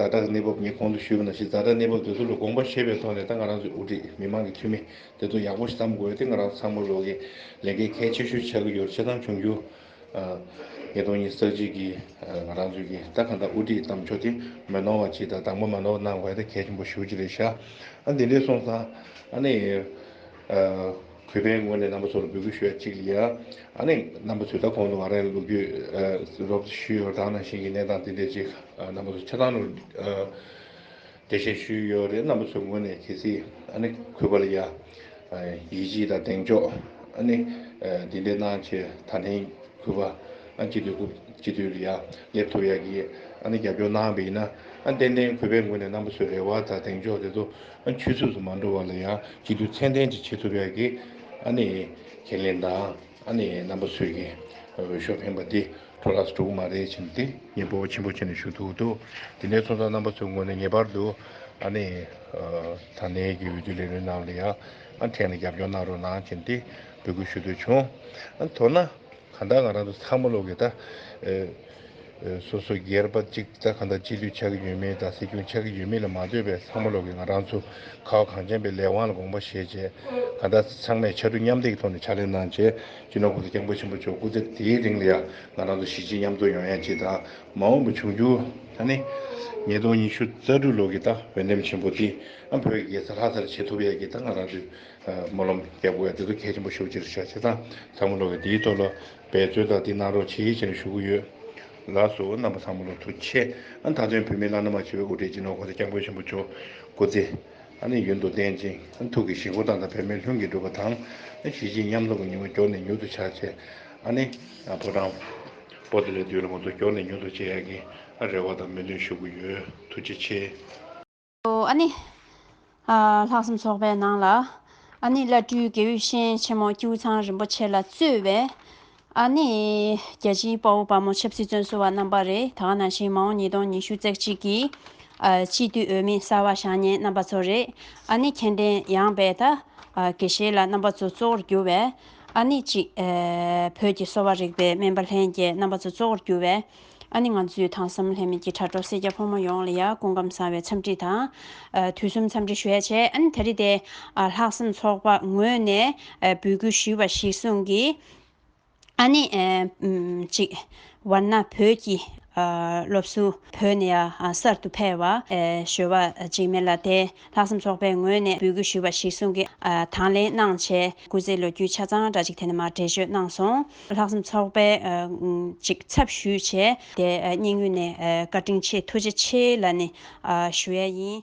རྫ་དྲག་གནས་བབ་ངས་གོང་དུ་ཞུས་པ་ན་ཞིག་རྫ་དྲག་གནས་བབ་དེ་ཚོ་ལ་དགོངས་པ་བཞེས་པའི་ཐོག་ནས་ད་ང་རང་ཚོའི་དབུ་ཁྲིད་མི་མང་གི་འཐུས་མི་དེ་ཚོ་ཡག་པོ་ཞིག་བརྩམ་དགོས་ཏེ་ང་རང་ཚང་མ་རོགས་ཀྱི་ལས་ཀའི་གལ་ཆེ་ཤོས་ཆགས་ཀྱི་ཡོད་ཅེས་དང་འབྱུང་འགྱུར་ཉིས་སྟོང་ཉིས་བརྩེགས་གཅིག་གི་ང་རང་ཚོའི་གི་ད་གང་དག་དབུ་ཁྲིད་གཏམ་ཕྱོགས་དེ་མི་ནོར་བ་ཅིག་དང་དང་པོ་མ་ནོར་བ་གནང་བས་ད་གལ་ཆེན་པོ་ཞུ་ཅི་རེད་ཤག་ཨ་འདི་འདྲས་སོང་ཙང་ཨ་ནི་གུས་པའི་ངོས་ནས་རྣམ་པ་ཚོར་འབོད་སྐུལ་ཞུ་ཡ་གཅིག་ལ་ཨ་ནི་རྣམ་པ་ཚོས་ད་གོང་དུ་ང་རང་ལོ་རྒྱུས་རོབ་ཞུས་ཡོད་དང་ནང་བཞིན་གྱི་གནས་སྟངས་དེ་འདྲས་ཅིག་རྣམ་པ་ཚོ་ཆ་ཚང་རུ་དེ་བཞིན་ཞུས་ཡོད་རེད་རྣམ་པ་ཚོའི་ངོས་ནས་གལ་སྲིད་ཨ་ནི་གུས་པ་ལ་ཡ། ཡིད་ཆེས་དང་གདེང་འཇོག་ཨ་ནི་འདི་འདྲའི་གནང་ཆེ་ད་ནི་གུས་པ་ཨ་སྤྱི་འཐུས་སྐུ་སྤྱི་འཐུས་ལ་ཡ་སླེབས་ཐུབ་ཡག་གི་ཨ་ནི་རྒྱབ་སྐྱོར་གནང་པ་ཡིན་ན་ཨ་ཏན་ཏན་གུས་པའི་ངོས་ནས་རྣམ་པ་ཚོའི་རེ་བ་དང་གདེང་འཇོག་དེ་ཚོ་ཨ་ཆུས་ཚོས་སུ་མ་འགྲོ་བ་ལ་ཡ་སྤྱི་འཐུས་མཚན་ལྡན་ཅིག་བྱེད་ཐུབ་ཡག་གི་ཨ་ནི་ཁས་ལེན་དང་ཨ་ནི་རྣམ་པ་ཚོས་ཀྱི་འོས་ཤོག་འཕེན་པ་འདི། ཁྲོ་ལགས་སུ་འགྲོ་གི་མ་རེད་བྱིན་ཏེ། སྙིང་པོ་ཆེན་པོ་བྱས་ནས་ཞུ་ཐུག་འདུག་དེ་ནས་ཚོང་ཙང་རྣམ་པ་ཚོའི་ངོས་ནས་ངེས་པར་དུ་ཨ་ནི། ས་གནས་ཀྱི་འོས་བསྡུ་ལས་རིམ་རྣམས་ལ་ཡང་ཐད་ནས་རྒྱབ་སྐྱོར་གནང་རོགས་གནང་བྱིན་ཏེ་འབོད་སྐུལ་ཞུ་འདོད་བྱུང། མདོར་ན། གང་ལྟར་ང་རང་ཚོ་ཚང་མ་ལོག་གི་གདའ། སོ་སོ་སྒེར་པ་གཅིག་གདའ་གང་ལྟར་སྤྱི་འཐུས་ཆགས་ཀྱི་ཡོད་མེད་གདའ་སྲིད་སྐྱོང་ཆགས་ཀྱི་ཡོད་མེད་ལ་མ་འདོད་པའི་ཚང་མ་ལོག་གི་ང་རང་ཚོ་ཁ་བ་གངས་ཅན་པའི་ལས་དབང་ལ་དགོངས་པ་བཞེས་བྱས། གང་ལྟར་ཚང་མས་ཕྱར་གྲུ་མཉམ་འདེགས་ཀྱི་ཐོག་ནས་ཕྱག་ལས་གནང་བྱས། སྤྱིར་ན་གོང་ས་སྐྱབས་མགོན་ཆེན་པོ་མཆོག་སྐུ་ཚེ་དེའི་རིང་ལ་ཡང་ང་རང་ཚོ་གཞིས་བྱེས་མཉམ་འཚོ་ཡོང་ཡ་ཅིག་དང་མ་འོངས་པའི་འབྱུང་འགྱུར་ད་ནི། ཉིས་སྟོང་ཉི་ཤུ་རྩ་དྲུག་ལོ་གི་ད་འོས་འདེམས་ཆེན་པོ་འདི་ཨ་བོད་ཀྱི་རྒྱལ་ས་ལྷ་སར་བྱེད་ཐུབ་ཡ་ཅིག་ད་ང་རང་ཚོས་སྨོན་ལམ་རྒྱབ་དགོས་ཡ་འདི་ཚོ་གལ་ཆེན་པོ་ཤོག་ཅེས་བྱ་བྱེད་དང་ཚང་མ་ལོ་ག་འདིའི་ཐོག་ལ་འབད་རྩོལ་དང་འདི་གནང་རོགས་ཆེ་ཞེས་ཞུ་གི་ཡོད། ལ་སོ་རྣམ་པ་ཚང་མ་ལོ་ཐུགས་ཆེ། ད་དུང་བོད་མི་བླ་ན་མ་མཆིས་པའི་དབུ་ཁྲིད་སྤྱི་ནོར་གོང་ས་སྐྱབས་མགོན་ཆེན་པོ་མཆོག་སྐུ་ཚེ། ནི་ཡུན་དུ་བརྟན་ཅིང་ཐུགས་ཀྱི་ཞིང་ཀུན་བདག་དང་བོད་མི་ལྷུན་གྱིས་གྲུབ་པ་དང། གཞི་བྱེས་མཉམ་འཛོམས་ཀྱི་ཉིང་བ་མགྱོགས་ནས་མྱུར་དུ་ཆགས་ཆེད། ནི། ཕོ་བྲང། པོ་ཏི་ལས་བསྡུས་ལ་ངོ་ཚ་མགྱོགས་ནས་མྱུར་དུ་བྱེད་ཡག་གི། རེ་བ་དང་མོས་འདུན་ཞུ་གི་ཡོད། ཐུགས་རྗེ་ཆེ། ནི། ལྷག་བསམ་ཚོགས་པའི་ནང་ལ། ནི་བླ་སྤྲུལ་དགེ་འོས་གཤེན་ཆེན་མོ་ཀྱེའུ་ཚང་རིན་པོ་ཆེ་ལ་གཙོས་པའི། ཨ་ནི། རྒྱལ་སྤྱིའི་དཔའ་བོ་དཔའ་མོ་ཆབ་སྲིད་བཙོན་ཟུར་བ་རྣམ་པ་རེ་ད་ག་ནང་བཞིན་མ་འོངས་ཉིས་སྟོང་ཉི་ཤུ་རྩེག་གཅིག་གི། སྤྱི་འཐུས་འོས་མི་གསར་བ་བཞག་ཉེན་རྣམ་པ་ཚོ་རེད། ཨ་ནི་མཁྱེན་ལྡན་ཡངས་པའི་ད་གེ་བཞེས་ལ་རྣམ་པ་ཚོ་གཙོ་བོར་གྱུར་བས། ཨ་ནི་གཅིག། བོད་ཀྱི་གསོ་བ་རིག་པའི་སྨན་པ་ལྷན་རྒྱས་རྣམ་པ་ཚོ་གཙོ་བོར་གྱུར་བས། ཨ་ནི་ང་ཚོས་ཐང་བསམ་ལྷད་མེད་ཀྱི་དྲ་གྲོགས་སེར་སྐྱ་ཕོ་མོ་ཡོངས་ལ་ཡང་སྐུ་ཁམས་བཟང་བའི་འཚམས་འདྲི་དང། དུས་གསུམ་འཚམས་འདྲི་ཞུ་ཡ་བྱས་ཨ་ནི་ད་རེས་ཏེ། ལྷག་བསམ་ཚོགས་པ་ངོས་ནས་འབུལ་སྐུལ་ཞུས་པ་ཞིག་གསུངས་གི། ཨ་ནེ། གཅིག། བར་ན་བོད་ཀྱི། སློབ་གསོ། བོད་ནས་གསར་དུ་ཕེབས། བཞོལ་བ། འཇིགས་མེད་ལ་དེ། ལྷག་བསམ་ཚོགས་པའི་ངོས་ནས་འབུལ་དགོས་ཞུས་པ་ཞིག་གསུང་གི། དང་ལེན་གནང་ཆེད་སྐུ་ཚེ་ལོ་རྒྱུས་ཆ་ཚང་འདྲ་ཅིག་དེ་ནས་མར་འགྲེལ་བརྗོད་གནང་སོང། ལྷག་བསམ་ཚོགས་པའི། གཅིག་ཚབ་ཞུས་ཆེད་དེ་སྙིང་དབུས་ནས་བཀའ་དྲིན་ཆེ་ཐུགས་རྗེ་ཆེ་ལ་ནི། ཞུ་ཡ་ཡིན།